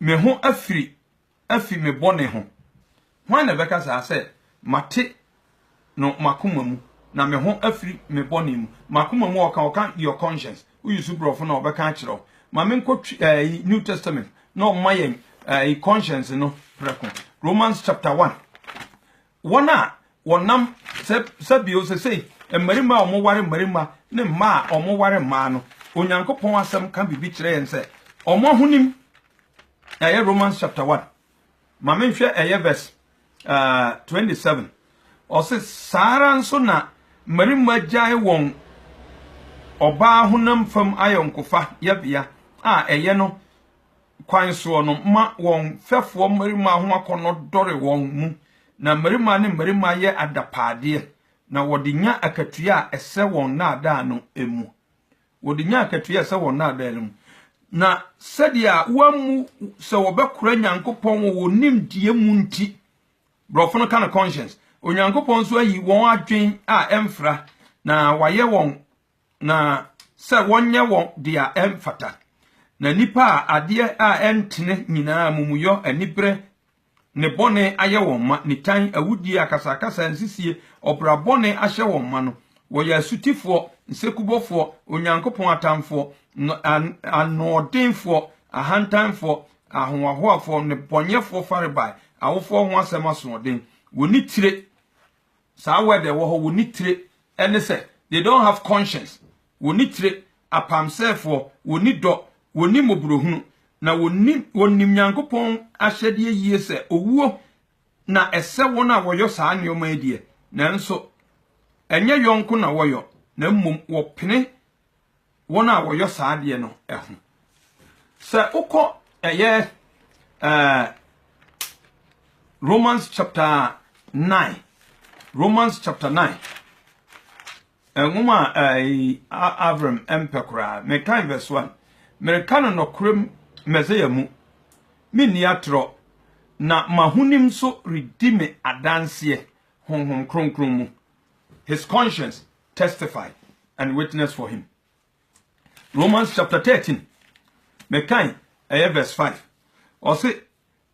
Me ho afiri afi me bɔne ho. Hwan na ɛbɛka saa sɛ, Mate no m'akoma mu, na me ho afiri me bɔne mu? M'akoma mu a ɔka, ɔka your conscience. Woyi so borɔfo na ɔbɛka akyerɛ wo. Ma me nkɔ ɛyi New Testament na ɔma yɛn ɛyi conscience no prɛko. Romans chapter one Wɔn a wɔnam sɛ sɛ bio sesei mmarima a wɔware mmarima ne mmaa a wɔware mmaa no, Onyankopɔn asɛm ka biribi kyerɛ yɛn sɛ wɔn ahonim ɛyɛ Romans chapter 1 ma menhwɛ ɛyɛ verse uh, 27 ɔse saa ara nso na mmarima gyae wɔn ɔbaa honam fam ayɔnkofa yɛbea a ɛyɛ no kwan soɔ no ma wɔn mfɛfoɔ mmarimaa ho akɔnnɔ dɔre wɔn mu, na mmarimaa ne mmarimaa yɛ adapaadeɛ, na wɔde nya akatua a ɛsɛ wɔn nnaadaa no mu. Wɔde nya akatua a ɛsɛ wɔn nnaadaa no mu. Na sɛdeɛ a wɔammu sɛ wɔbɛkora Nyankopɔn wɔ wɔn nimdeɛ mu nti, borɔfo no ka no conscience, Onyankopɔn nso ayi wɔn adwen a ɛmfra, na wayɛ wɔn Na sɛ wɔnyɛ wɔn dea ɛmfata. Na nnipa a adeɛ a ɛntene nyinaa, amumuyɔ, aniberɛ, ne bɔne ayɛ wɔn ma, nitan, awudie, akasakasa, nsisie, ɔbra bɔne ahyɛ wɔn ma no, wɔyɛ asutifoɔ, nsekubɔfoɔ, Onyankopɔn atamfoɔ, anoɔdenfoɔ, ahantanfoɔ, ahohoahoafoɔ, nnebɔneyɛfoɔ farebae, awofoɔ ho asɛm asoɔden, wɔnni tire, saa word ɛwɔ hɔ wɔnni tire ɛne sɛ they don't have conscience wɔnni tire apamsɛɛfoɔ wɔnni dɔ wɔnni mmɔborɔhunu na wɔnni wɔnim Nyankopɔn ahyɛdeɛ yie sɛ owuo na ɛsɛ wɔn a wɔyɔ saa nneɛma yi deɛ nanso ɛnyɛ yɔnko na wɔyɔ na mmom wɔpene wɔn a wɔyɔ saa adeɛ no ho sɛ wokɔ ɛyɛ ɛɛ romans chapter nine romans chapter nine nwoma a ɛyi avram mpɛ koraa mekan verse one mereka no nɔkorɛm mɛsɛya mu menni atorɔ na mahonim nso redi me adanseɛ honhom kronkron mu his conscience testify and witness for him. Romans chapter 13, mekan ɛyɛ verse 5. Ɔse,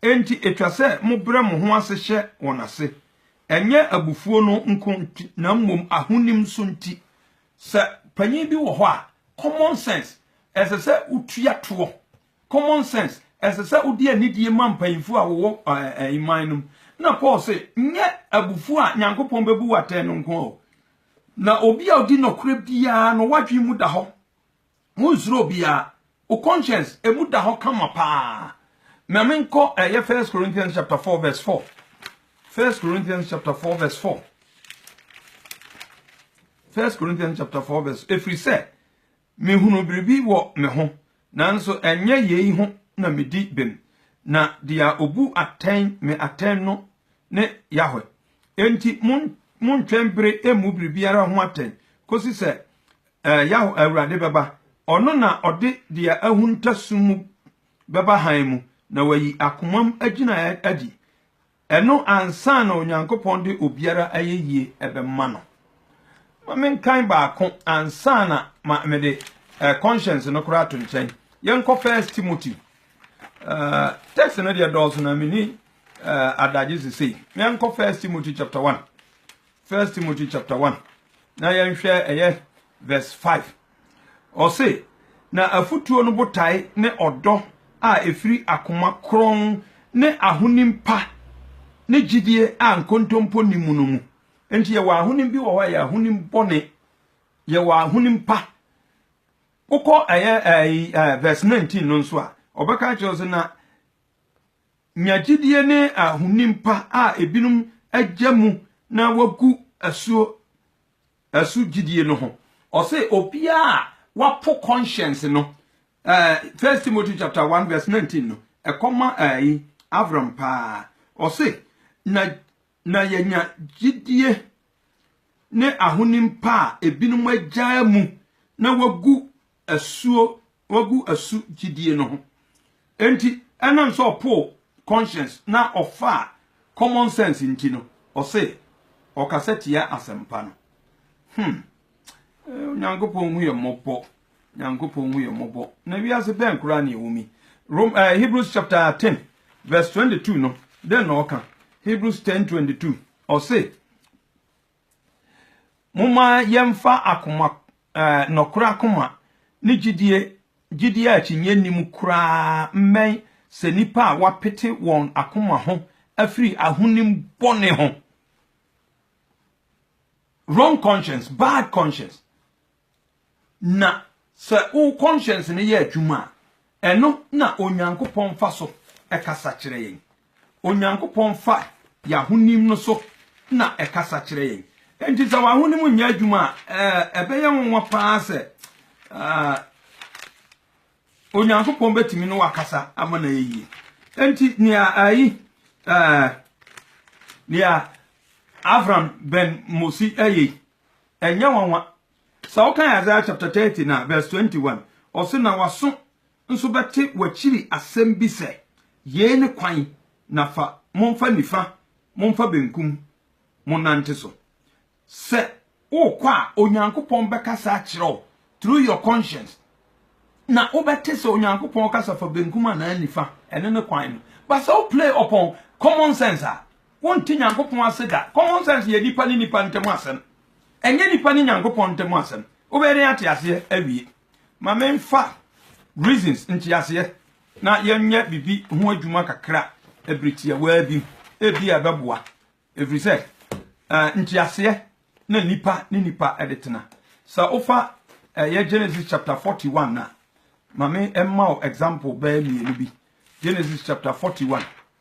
enti etwa sɛ mobrɛ mo ho ase hyɛ wɔn ase, ɛnyɛ abufuo no nko nti, na mmom ahonim nso nti. Sɛ panyin bi wɔ hɔ a, common sense, ɛsɛ sɛ wotua toɔ Common sense, ɛsɛ sɛ wode anidie ma mpanyimfoɔ a wɔwɔ man no mu. Na Paul se, Nyɛ abufuo a Nyankopɔn bɛbu wo atɛn no nko o, na obi a ɔdi nɔkorɛ biara no, w'adwene mu da hɔ. Wonsuro obiara. Wo conscience, emu da hɔ kama paa. Ma menkɔ ɛyɛ First Corinthians chapter 4 verse 4. First Corinthians chapter 4 verse 4. First Corinthians chapter 4 verse. Ɛfiri sɛ, Mehunu biribi wɔ me ho, nanso ɛnyɛ yei ho na medi bem, na deɛ ɔbu atɛn me atɛn no ne Yahwe. Enti montwɛn bere mmu biribiara ho atɛn kɔsi sɛ Yahwe Awurade bɛba. Ɔno na ɔde deɛ ahunta sum mu bɛba hann mu, na wayi akomam agyinaeɛ adi. Ɛno ansa na Onyankopɔn de obiara ayɛyie bɛma no. Ma menkan baako ansa na ma mede eh, conscience no koraa to nkyɛn. Yɛnkɔ First Timothy. Uh, text no deɛ dɔɔso na meni uh, adagye sesei. Yɛnkɔ First Timothy chapter 1. First Timothy chapter 1. Na yɛnhwɛ ɛyɛ verse 5. Ɔse, Na afotuo no botae ne ɔdɔ a ɛfiri akoma kronn ne ahonim pa ne gyidie a nkontompo nni mu no mu. Enti yɛwɔ ahonim bi wɔ hɔ a ɛyɛ ahonim bɔne, yɛwɔ ahonim pa. Wokɔ ɛyɛ ɛyi ɛɛ verse 19 no nso a, ɔbɛka kyerɛ wo sɛ na nya gyidie ne ahonim pa a ebinom agya mu na wagu asuo Ɛso gyidie no ho. Ɔse obiaa a wapo conscience no eh First Timothy chapter one verse nineteen no ɛkɔma ɛyi Avram paa. Ɔse na na yɛanya gyidie ne ahonim pa a ebinom agyaa mu na wagu asuo wagu asu gyidie no ho enti ɛnam sɛ ɔpoo conscience na ɔfaa common sense nti no ɔse ɔkasa tia asɛmpa no hmm Onyankopɔn hu yɛ mmɔbɔ Nyankopɔn hu yɛ mmɔbɔ na wiase bɛn koraa ne ɛwɔ mi Rom, uh, Hebrews chapter 10 verse 22 no dɛn na ɔka Hebrews 10:22 ɔse Momma yɛmfa akoma, nɔkorɛ akoma, ne gyidie, gyidie a akyinnyeɛ nni mu koraa mmɛn sɛ nnipa a wɔapete wɔn akoma ho afiri ahonim bɔne ho, wrong conscience, bad conscience. Na sɛ wo kɔnhyɛns no yɛ adwuma a, ɛno na Onyankopɔn fa so kasa kyerɛ yɛn. Onyankopɔn fa yɛn ahonim no so na ɛkasa kyerɛ yɛn. Enti sɛ w'ahonim nyɛ adwuma a, ɛbɛyɛ nwonwa paa sɛ Onyankopɔn bɛtumi ne wakasa ama no ayɛ yie. Enti nea ayi nea Avram Ben Mosi ayɛ Ɛnyɛ nwanwa sɛ wokan Isaiah chapter thirty na verse twenty one, ɔse, Na w'aso nso bɛte w'akyiri asɛm bi sɛ, Yei ne kwan, na fa, momfa nifa, momfa benkum, monnante so. Sɛ worekɔ a, Onyankopɔn bɛkasa akyerɛ wo through your conscience, na wobɛte sɛ Onyankopɔn rekasa fa benkum anaa nifa, ɛno ne kwan no. But sɛ wo play upon common sense a, Wonte Nyankopɔn ase da. Common sense yɛ nipa ne nipa ntam asɛm. Ɛnyɛ nipa ne Nyankopɔn ntam asɛm. Wobɛyɛ dɛn ate aseɛ awie? Ma memfa reasons, nteaseɛ, na yɛnyɛ biribi ho adwuma kakra bere tiawaa bi mu. Ebia ɛbɛboa, ɛfiri sɛ nteaseɛ na nipa ne nipa de tena. Sɛ wofa ɛyɛ Genesis chapter 41 a, ma me mma wo example bɛyɛ mmienu bi. Genesis chapter 41.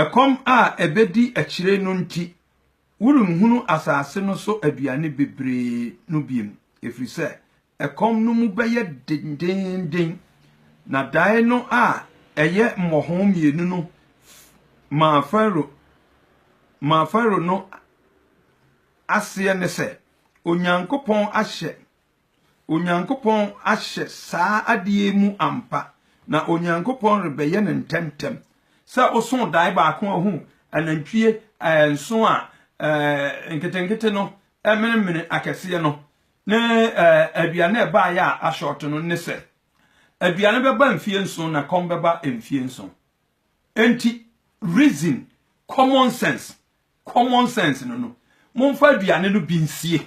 Ɛkɔm a ɛbɛdi akyire no nti, worenhunu asase no so aduane bebree no bio, ɛfiri sɛ ɛkɔm no mu bɛyɛ dendeenden. Na daeɛ no a ɛyɛ mmɔho mmienu no maa Farao maa Farao no aseɛ ne sɛ Onyankopɔn ahyɛ Onyankopɔn ahyɛ saa ade yi mu ampa, na Onyankopɔn rebɛyɛ no ntɛmntɛm. Sɛ wosoo dae baako a ohuu anantwie eh, nson a eh, nketenkete no eh, menemene akɛseɛ no ne eh, aduane a ɛbaeɛ a ashɔɔto no ne sɛ aduane bɛba mfie nson na kɔm bɛba mfie nson. Enti reason, common sense Common sense no no, momfa aduane no bi nsie,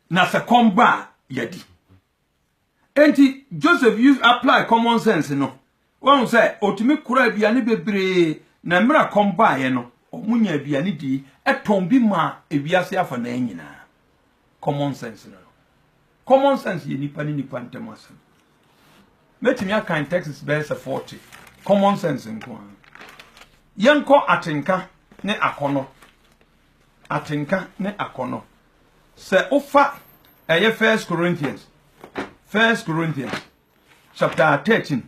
na sɛ kɔm ba a, yɛadi. Enti Joseph use apply common sense no. Wahu sɛ ɔtumi kora aduane bebree, na mmerɛ a kɔm baeɛ no, wɔn nya aduane dii, ɛtɔn bi maa ewiase afanaa nyinaa. Common sense no no. Common sense yɛ nipa ne nipa ntam asɛm. Mɛtumi akan texts bɛyɛ sɛ 40, common sense nko ara. Yɛnkɔ atenka ne akɔnɔ. Atenka ne akɔnɔ. Sɛ wofa ɛyɛ First Corinthians, First Corinthians chapter 13,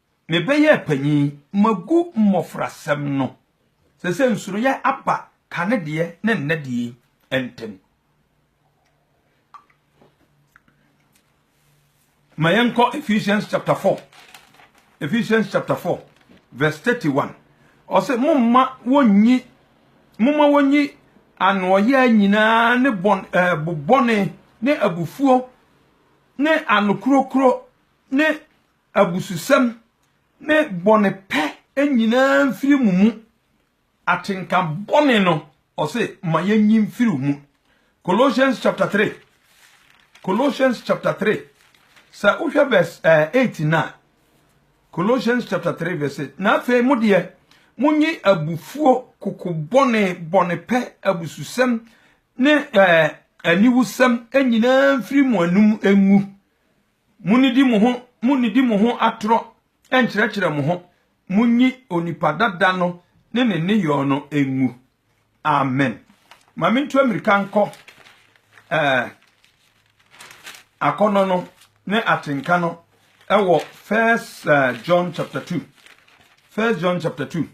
Mebɛyɛɛ panyin, magu mmofrasɛm no. Seesei nsuroyɛ aba kane deɛ ne nnɛ deɛ yi ntam. Ma yɛnkɔ Ephesians chapter 4. Ephesians chapter 4 verse 31. Ɔsɛ momma wɔnyi momma wɔnyi anoɔyɛ nyinaa ne bɔn ɛɛ eh, bobɔne ne abufuo ne anokorokoro ne abususɛm ne bɔne pɛ nyinaa mfiri mo mu, atenka bɔne no, ɔse ma yɛnyi mfiri mu. Colossians chapter 3 Colossians chapter 3 sɛ wohwɛ verse 8 eh, na Colossians chapter 3 verse 8 na afei mo deɛ monyi abufuo koko bɔne bɔne pɛ abususɛm ne eh, aniwusɛm nyinaa mfiri mo anum ngu Munnidi mo ho munnidi mo ho atorɔ nnkyerɛkyerɛ mo ho, munyi onipa dada no ne ne nneyɔɔ no ngu. Amen. Ma mentu amirika nkɔ eh, akɔnnɔ no ne atenka no ɛwɔ First eh, John chapter 2. First John chapter 2.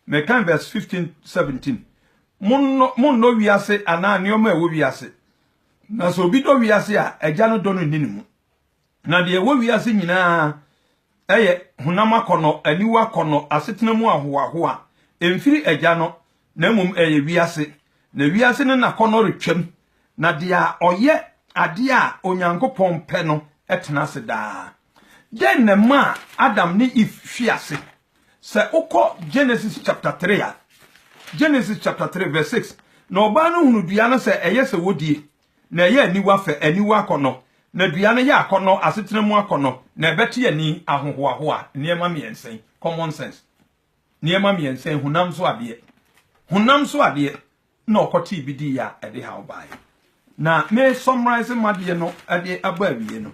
Me kan vs 15, 17 Monnɔ, monnɔ wiase anaa nneɛma a ɛwɔ wiase. Na sɛ obi dɔ wiase a, Agya no dɔ no nni ne mu. Na deɛ ɛwɔ wiase nyinaa yɛ honam akɔnnɔ, aniwa akɔnnɔ, asetena mu ahohoahoa. Ɛmfiri Agya no, na mmom ɛyɛ wiase. Na wiase ne n'akɔnnɔ retwam na deɛ a ɔyɛ adeɛ a Onyankopɔn pɛ no tena ase daa. Dɛn na ɛmaa Adam ne Eve fi ase? Sɛ wokɔ Genesis chapter 3 a, Genesis chapter 3 verse 6, na ɔbaa no hunu dua no sɛ ɛyɛ sɛ wɔdie, na ɛyɛ aniwa fɛ, aniwa akɔnnɔ, na dua no yɛ akɔnnɔ, asetena mu akɔnnɔ, na ɛbɛte ani, ahohoahoa, nneɛma mmiɛnsa yi, common sense, nneɛma mmiɛnsa yi, honam so adeɛ, honam so adeɛ, na ɔkɔtee bi dii a ɛde haw bae. Na me sɔmraese m'adeɛ no de aba awie no,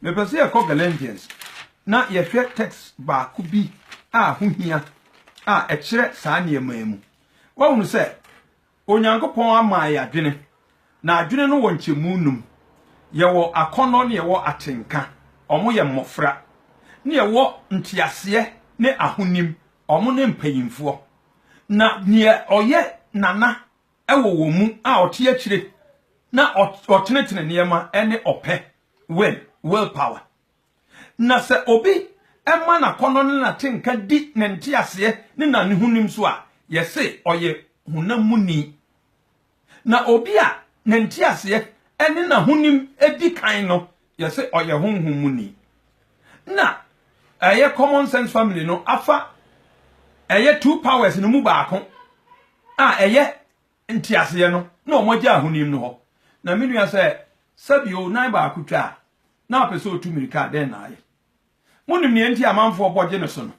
mepɛ sɛ yɛkɔ Galatians na yɛhwɛ text baako bi a ho hia a ɛkyerɛ saa nneɛma yi mu. Woahunu sɛ Onyankopɔn ama yɛ adwene, na adwene no wɔ nkyɛmu num. Yɛwɔ akɔnnɔ na yɛwɔ atenka, wɔn yɛ mmɔfra, na yɛwɔ nteaseɛ ne ahonim, wɔn ne mpanyimfoɔ. na neɛ ɔyɛ nana wɔ wɔn mu a ɔte akyire na ɔtenetene nneɛma ne ɔpɛ will will power na sɛ obi ɛma n'akɔnnɔ ne n'atenka di ne nteaseɛ ne n'ahonim so a yɛse ɔyɛ honam muni Na obi a ne nteaseɛ ne n'ahonim di kan no, yɛse ɔyɛ honhom mu ni. Na ɛyɛ common sense family no afa ɛyɛ two powers no mu baako a ɛyɛ nteaseɛ no na wɔn agya ahonim no hɔ. Na me nua sɛ sɛbi o nan baako twa a na apɛ sɛ otu mirika a dɛn na ayɛ? Monim nea nti amanfoɔ bɔ gye ne so no?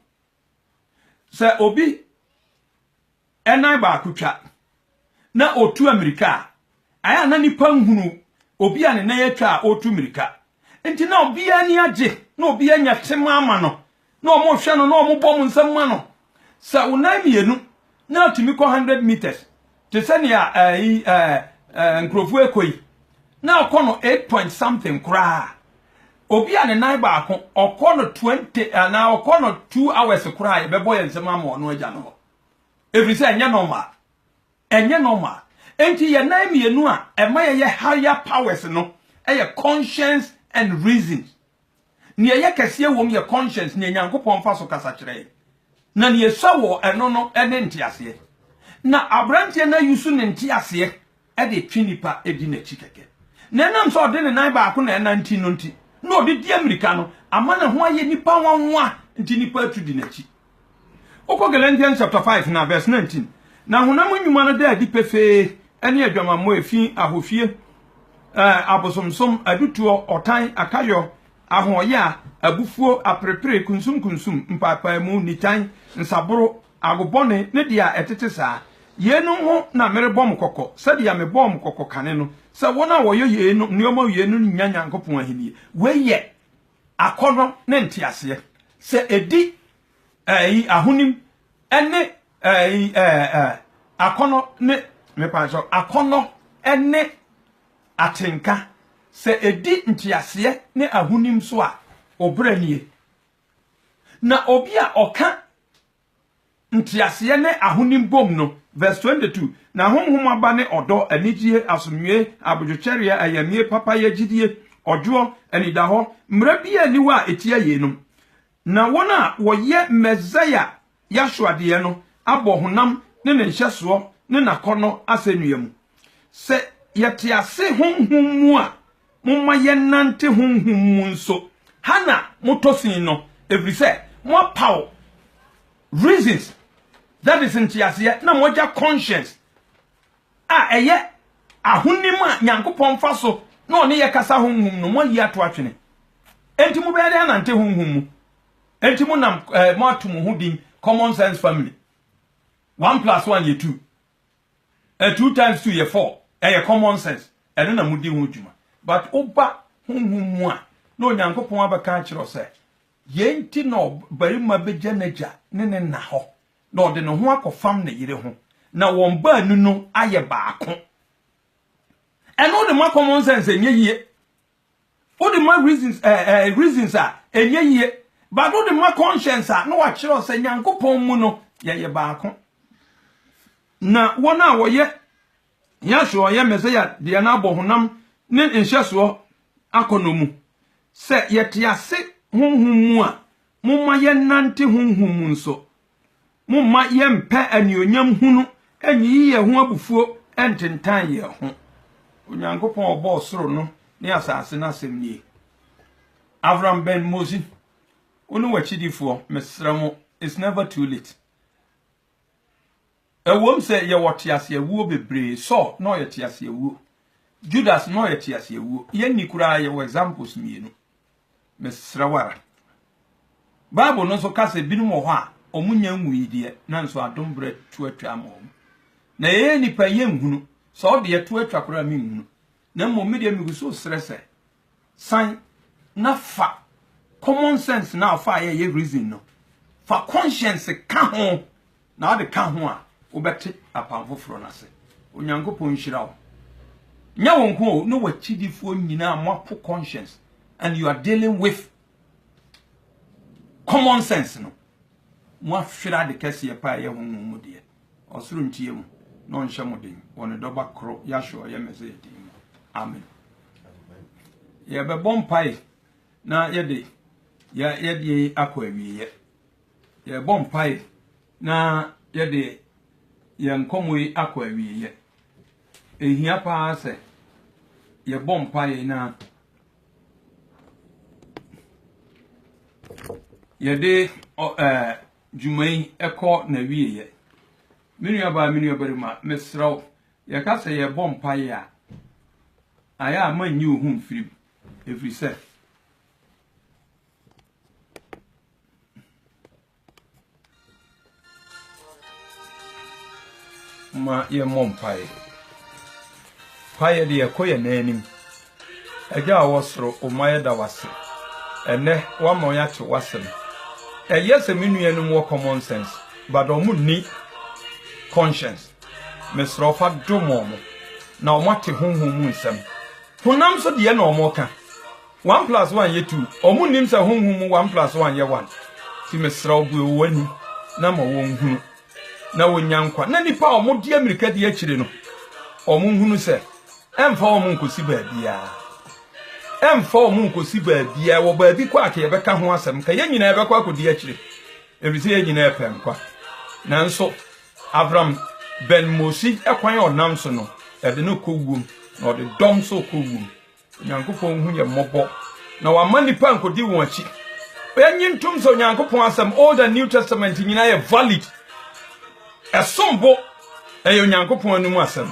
Sɛ obi nan baako twa na ɔtu amirika a, ayɛ a na nnipa nhunu obi a ne nan atwa a ɔretu mirika. Nti na obiara ani agye, na obiara nya tema ama no, na wɔhwɛ no, na wɔbɔ wɔn nsam ma no. Sɛ wo nan mmienu na atumi kɔ 100 meters te sɛ nea ɛyi ɛɛ ɛɛ nkurɔfoɔ ɛkɔ yi na ɔkɔ no eight point something koraa obi a ne nan baako ɔkɔ no twenty anaa ɔkɔ no two hours koraa yɛbɛbɔ yɛn nsɛm ama ɔno agya no hɔ ɛfiri sɛ ɛnyɛ normal ɛnyɛ normal nti yɛn nan mmienu a ɛma yɛyɛ higher powers no ɛyɛ conscience and reasons. Nea ɛyɛ kɛseɛ wom yɛ conscience, nea Nyankopɔn fa so kasa kyerɛ yɛn, na nea ɛsua wɔ ɛno no ne nteaseɛ. Na aberanteɛ no ayusu ne nteaseɛ de retwe nnipa di n'akyi kɛkɛ. Na ɛnam sɛ ɔde ne nan baako na ɛnante no nti, na ɔde di ammirika no ama ne ho ayɛ nnipa nwanwa nti nnipa atu di n'akyi. Wokɔ Galatians chapter five na verse nineteen, na honam nnwuma no da adi pefee, ɛne adwamammɔ, efi, ahohwie, ɛɛ, abosomsom, adutoɔ, ɔtan, akayɔ, ahoɔyaa, abufuo, aperepere, kunsumkunsum, mpaapaemu, nitan, nsaboro, agobɔne, ne deɛ a ɛtete saa. Yeinom ho na merebɔ mo kɔkɔ, sɛdeɛ mebɔɔ mo kɔkɔ kane no, sɛ wɔn a wɔyɔ yeinom, nneɛma wienom no nnya Nyankopɔn ahennie. Wei yɛ. akɔnnɔ ne nteaseɛ, sɛ ɛdi ɛɛyi ahonim ne ɛɛyi ɛɛ akɔnnɔ ne mepakyɛw akɔnnɔ ne atenka, sɛ ɛdi nteaseɛ ne ahonim so a, ɔbrɛ nie. Na obi a ɔka Ntseaseɛ ne ahonim bom no, Verse 22, Na Honhom aba ne ɔdɔ, anigyie, asomdwoeɛ, abodwokyɛreɛ, ayamyie, papayɛ, gyidie, ɔdwoɔ, anidahɔ, mmara bi a nni hɔ a ɛtia yeinom. Na wɔn a wɔyɛ Mɛsaia Yahshua deɛ no abɔ honam ne ne nhyɛsoɔ ne n'akɔnnɔ asɛnnua mu. Sɛ yɛte ase honhom mu a, Momma yɛnnante honhom mu nso. Ha na motɔ sin no, ɛfiri sɛ moapaw reasons, that is, nteaseɛ, na moagya conscience a ɛyɛ ahonim a Nyankopɔn fa so na ɔne yɛ kasa honhom no, moayi ato atwene. Enti mobɛyɛ dɛn anante honhom mu? Enti monam eh, moato mo ho din common sense family. One plus one yɛ two. Eh two times two yɛ four ɛyɛ common sense ɛno na modi ho dwuma but woba honhom mu a na Onyankopɔn abɛka akyerɛ wo sɛ yei nti na ɔbarima bɛgya n'agya ne ne na hɔ na ɔde ne ho akɔfam ne yere ho na wɔn baanu no ayɛ baako ɛno de ma common sense ɛnyɛ yie Wode ma reasons eh eh reasons a ɛnyɛ yie but wode ma conscience a na wakyerɛ wo sɛ Nyankopɔn mu no yɛyɛ baako. Na wɔn a wɔyɛ Yahshua ɔyɛ Mesia deɛ no abɔ honam ne nhyɛsoɔ akɔnnɔ mu. Sɛ yɛte ase honhom mu a, momma yɛnnante honhom mu nso. Momma yɛmpɛ anuonyam hunu nyiyi yɛn ho abufuo ntentan yɛn ho. Onyankopɔn a ɔbɔɔ soro no ne asase no asɛm nie. Avram Ben Mosin, wo ne w'akyidifoɔ, mesrɛ mo, it's never too late. Ɛwom sɛ yɛwɔ teaseawuo bebree, Saul na ɔyɛ teaseawuo, Judas na ɔyɛ teaseawuo, yɛn ni koraa yɛwɔ examples mmienu. Mesrɛ wo ara. Bible no nso ka sɛ binom wɔ hɔ a wɔn nya nwui deɛ, nanso adom berɛ to atwa ama wɔn. Na yɛyɛ nnipa yɛnhunu, sɛ ɔdeɛ to atwa koraa a menhunu. na mmom me deɛ megu so srɛ sɛ san na fa common sense na afa yɛ yɛ reason no fa conscience ka ho na ɔde ka ho a wobɛte apam foforɔ no ase onyankopɔn nhyira wo nyɛ wo nko o ne wakyidifoɔ nyinaa moapo conscience and you are dealing with common sense no moahwera de kɛseɛ paa yɛ honhom mu deɛ Ɔsoro ntie mo na ɔnhyɛ mo den wɔ ne dɔba koro Yahshua a ɔyɛ Messiah din mu. Amen. Yɛbɛbɔ mpae na yɛde yɛde akɔ awieɛ. Yɛbɔ mpae na yɛde yɛn nkɔmmɔ yi akɔ awieɛ. Ehia paa sɛ yɛbɔ mpae na yɛde ɛɛ dwuma yi kɔ n'awieɛ. Me nuabaa, me nuabarima, mesrɛ wo, yɛka sɛ yɛrebɔ mpaeɛ a, ayɛ a mannyi wo ho mfiri mu, ɛfiri sɛ, momma yɛmmɔ mpaeɛ. Mpaeɛ deɛ, ɛkɔ yɛn nan anim. Agya a ɔwɔ soro, O ma yɛda wo ase ɛnnɛ, woama yɛate w'asɛm. Ɛyɛ sɛ me nuanom wɔ common sense, but wɔn nni conscience. Mesrɛ wo fa dom wɔn, na wɔn ate honhom mu nsɛm. Honam so deɛ na wɔn ka, one plus one yɛ two, wɔn nnim sɛ honhom mu one plus one yɛ one. Ti mesrɛ wo bue wɔn ani, na ma wɔn nhunu, na wɔn nya nkwa, na nipa a wɔn di amirika di akyire no, wɔn nhunu sɛ Ɛmfa wɔn nkɔsi baabiara. Ɛmfa wɔn nkɔsi baabiara. Wɔ baabi kɔ a, ka yɛbɛka ho asɛm. Ka yɛn nyinaa bɛkɔ akɔdi akyire, ɛfiri sɛ yɛn nyinaa pɛ nkwa. Nanso Abram bɛn Mose kwan a ɔnam so no, ɛde no kɔ wuom, na ɔde dɔm nso rekɔ wuom. Onyankopɔn hu yɛn mmɔbɔ, na wamma nnipa ankɔdi wɔn akyi. Yɛnye ntom sɛ Onyankopɔn asɛm, Old and New Testament nyinaa yɛ valid. Ɛsom bo, ɛyɛ Onyankopɔn anom asɛm.